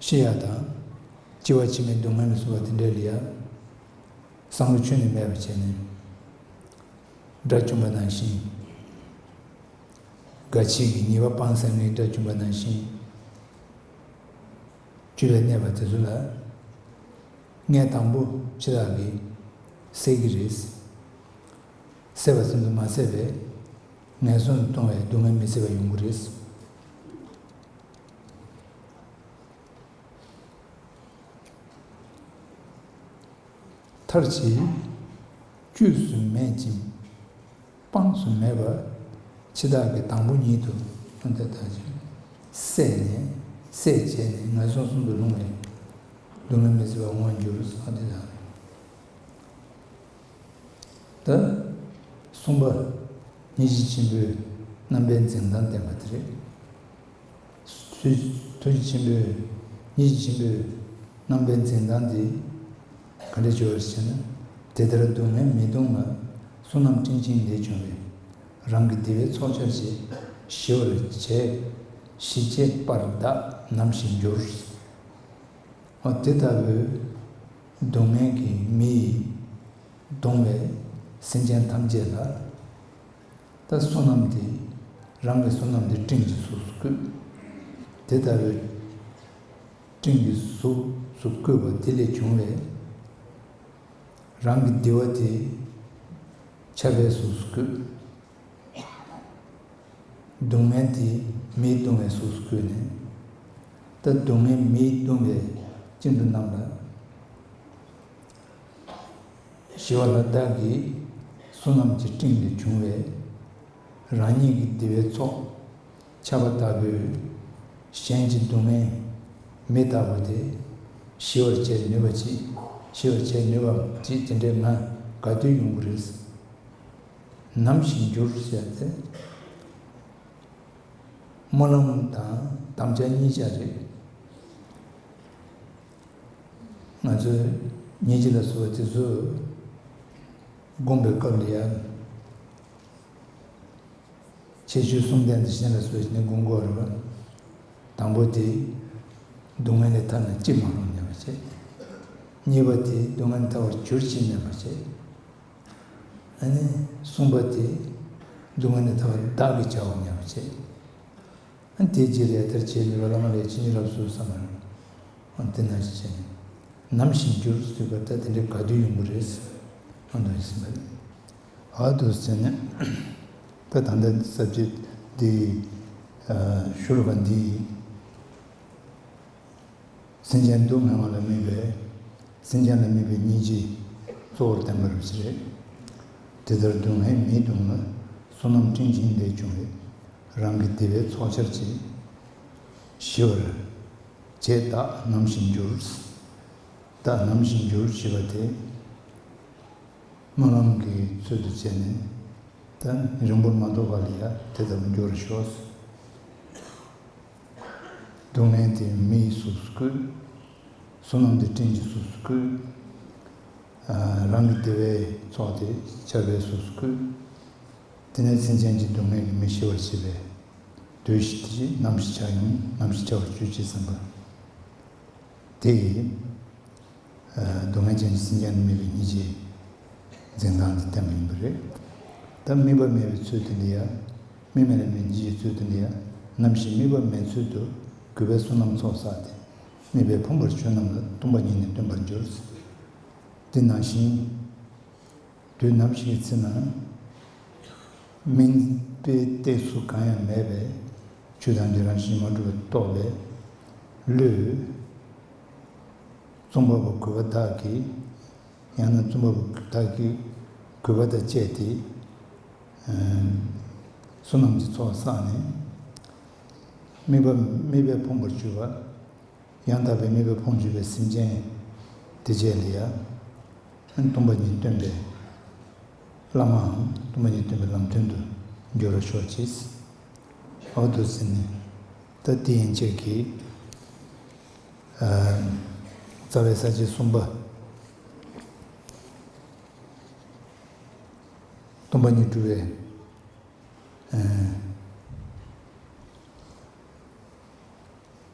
ཤེས་ཡ་དང། ལྕི་བ་ཕྱི་མའི་སྡུག་བསྔལ་མི་བཟོ་བ་དེ་འདྲའི་ལས་ཡ། བསམ་བློ་ཆོས་ནས་མེད་པར་བྱས་ནས། དགྲ་བཅོམ་པ་ནང་བཞིན། དགའ་བྱེད་ཀྱི་ཉེས་པ་སྤངས་སེམས་ངན་དགྲ་བཅོམ་པ་ནང་བཞིན། བཅུ་ལས་གནས་པ་དེ་ཚོ་ལ། ངས་དང་པོ་འཆི་བདག་གིས་བསད་ཀྱི་རེད། བསད་པ་ཙམ་དུ་མ་ཟད་པས། ངན་སོང་དུ་གཏོང་བའི་སྡུག་བསྔལ་མི་བཟད་པ་ཡོང་གི་རེད། མཐར་བྱེད། དཀྱུས་སུ་མེད་ཅིང་དཔངས་སུ་མེད་པར་འཆི་བདག་གི་དང་པོ་ཉིད་དུ་སོང་སྟེ་དག་ཅིང་སད་ནས་སད་བྱས་ནས་ངན་སོང་གསུམ་དུ་ལྷུང་བས་སྡུག་བསྔལ་མི་སྲིད་པར་འོང་འགྱུར་བ་སོགས་འདི་དང་འདི་གསུངས་པ་ནི་གཞི་ཆེན་པོའི་རྣམ་པའི་འཛིན་སྟངས་བསྟན་པ་དེ་རེད། དུས་ཆེན་པོའི་ཡིད་ཆེན་པོས་རྣམ་པའི་འཛིན་སྟངས་འདི་ག་འདྲས་བྱུང་བ་ཞེ་ན། དེ་ལྟར་སྡུག་བསྔལ་མི་གཏོང་བར་བསོད་ནམས་སྤྲིན་ཆེན་འདི་བྱུང་བས་རང་གི་བདེ་བའི་ཚོགས་ཆར་བྱས་ཞི་བར་བྱས། ཞི་བྱས་པར་བདག་ནམ་ཞིག་འགྱུར། འོ་དེ་ལྟ་བུའི་སྡུག་བསྔལ་གྱི་མི་ཡིས་གདུང་བའི་སེམས་ཅན་ཐམས་ཅད་ལ། ད་བསོད་ནམས་དེ་རང་གི་བསོད་ནམས་དེ་སྤྲིན་གྱི་གཟུགས་སུ་བཀོད། དེ་ལྟ་བུའི་སྤྲིན་གྱི་གཟུགས་སུ་བཀོད་པ་དེ་ལས་བྱུང་བའི་རང་གི་བདེ་བ་དེ་ཆར་པའི་གཟུགས་སུ་བཀོད། སྡུག་བསྔལ་དེ་མིའི་གདུང་བའི་གཟུགས་སུ་བཀོད་ནས། ད་སྡུག་བསྔལ་མིའི་གདུང་བའི་སྤྱིན་དུ་རྣམས་ལ། ཞེས་པ་ལ་བདག་གིས་བསོད་ནམས་ཀྱི་སྤྲིན་ལས་བྱུང་བའི་རང་ཉིད་ཀྱི་བདེ་བའི་ཚོགས་ཁྱབ་པ་ལྟ་བུས་གཞན་གྱི་སྡུག་བསྔལ་མི་ལྟ་བུ་དེ་ཞི་བར་བྱེད་ནུས་པ་ཅིག་ཞི་བར་བྱེད་ནུས་པ་ཅིག་དེ་འདྲའི་ང་དགའ་སྡུག་ཡོང་གི་རེད། ནམ་ཞིག་འགྱུར་ཞེས་པ་དེ་སྨོན་ལམ་དང་དམ་བཅའ་གཉིས་ཆ་རེད། ང་ཚོས་ཉིན་གཅིག་ལ་བཟོ་བ་དེ་ཚོས་བསྒོམ་པའི་སྐབས་ལ་ཡང། ཁྱད་ཆོས་གསུམ་ལྡན་དེ་གཞན་ལ་བཟོས་ཤིང་བསྒོམ་དགོས་རེད་པ། དང་པོ་དེ། སྡུག་བསྔལ་ལས་ཐར་ན་ཅི་མ་རུང་སྙམ་པ་བྱེད། གཉིས་པ་དེ་སྡུག་བསྔལ་ཐར་བར་གྱུར་ཅིག་སྙམ་པ་བྱེད། ཨ་ནི་གསུམ་པ་དེ། སྡུག་བསྔལ་ལས་ཐར་བར་བདག་གིས་བྱའོ་སྙམ་པ་བྱེད། དེའི་རྗེས་ལས་དར་བྱེད་མི་རོ་ལངས་ལས་ཅི་ཉིད་རབ་གསོལ་བསམ་མ་ཡོང། འདི་ན་ཅི་བྱས་ནམ་བཞིན་འགྱུར་སྲིད་པ་ད་དེ་འདྲའི་དགའ་སྡུག་ཡོང་གི་རེད་བསམ། འདོད་སྲིད་པ་རེད། ཨ་དུ་ཟེར་ནས། ད་ད་འདི་གསར་བརྗེ་འདི་ཡི། ཞུ་རུ་བ་འདི་ཡི། སེམས་ཅན་སྡུག་བསྔལ་བ་ལ་དམིགས་པའི། སེམས་ཅན་ལ་དམིགས་པའི་སྙིང་རྗེ། གཙོ་བོར་བསྟན་པ་རུ་ཅི་རེད། དེ་ལྟར་སྡུག་བསྔལ་མིའི་སྡུག་བསྔལ། བསོད་ནམས་སྤྲིན་ཆེན་ལས་བྱུང་བའི། རང་གི་བདེ་བའི་ཚོགས་འཆར་ཅིག། ཞི་བར་བྱས་བདག་ནམ་བཞིན་འགྱུར། བདག་ནམ་བཞིན་འགྱུར་ཞེས་པ་དེ། སྨོན་ལམ་གྱི་ཚུལ་དུ་བྱས་ནས། དང་རིང་པོར་མ་འདོར་བར་ལ་དེ་ལྟ་བུ་འགྱུར་ཞོག། སྡུག་བསྔལ་དེ་མི་ཡི་གཟུགས་སུ་བཀོད། བསོད་ནམས་དེ་སྤྲིན་གྱི་གཟུགས་སུ་བཀོད། རང་གི་བདེ་བའི་ཚོགས་དེ་ཆར་པའི་གཟུགས་སུ་བཀོད། དེ་ནས་མཚན་ཅན་གྱི་སྡུག་བསྔལ་གྱིས་མི་ཤི་བར་བྱེད་པས། བདུད་བཞི་དེ་བཞིན་ནམ་ཞིག་བྱ་ཡིན་ནམ་ཞིག་བྱ་བར་གྱུར་ཅེས་སེམས་པ། དེ་ཡིས། སྡུག་བསྔལ་ཅན་གྱི་སེམས་ཅན་ནི་མིག་གི་སྙིང་རྗེའི་འཛིན་སྟངས་ཀྱིས་བསྟན་པ་ཡིན་པ་རེད། ད་དམིགས་པ་མེད་པའི་ཚུལ་དུ་འདི་ཡ། དམིགས་མེད་ལ་མི་འཇིགས་ཀྱི་ཚུལ་དུ་འདི་ཡ། ནམ་ཞིག་དམིགས་པ་མེད་ཚུལ་དུ་གུས་པས་བསོད་ནམས་ཚོགས་བསགས་ཏེ། དམིགས་པའི་ཕམ་པར་ཆོས་རྣམས་ལ་ལྟུང་བ་ཉིད་ནས་སྟོན་པར་འགྱུར། འདི་ནང་བཞིན། དུས་ནམ་ཞིག་ཚེ་ནང་སྨིན། དཔེའི་སྟེགས་སུ་གང་ཡང་མེད་པས། ཆུ་དང་འདྲེ་རང་བཞིན་མ་གྲུབ་པ་རྟོགས་པའི་བློས། རྩོམ་པ་པོ་གུས་པ་བདག་གིས། ཡང་ན་རྩོམ་པ་པོ་བདག་གིས་གུས་པ་དང་བཅས་ཏེ། བསོད་ནམས་ཀྱི་ཚོགས་བསགས་ནས། དམིགས་པ་དམིགས་པས་ཕོངས་པར་གྱུར་པ། ཡང་དག་པའི་གནས་པའི་ཕུང་བྱེད་པའི་སེམས་ཅན། དེ་བཅས་ལ་ཡང། སྟོང་པ་ཉིད་སྟོན་པའི་བླ་མའམ་སྟོང་པ་ཉིད་སྟོན་པའི་ལམ་སྟོན་དུ་འགྱུར་རོ་ཤོག་ཅིག། ཨའོ་བདུད་རྩི་ནི། ད་ཏི་ཡན་ཆད་ཀྱི། རྩ་བའི་ས་བཅད་གསུམ་པ། སྟོང་པ་ཉིད་སྤྲུལ་བའི།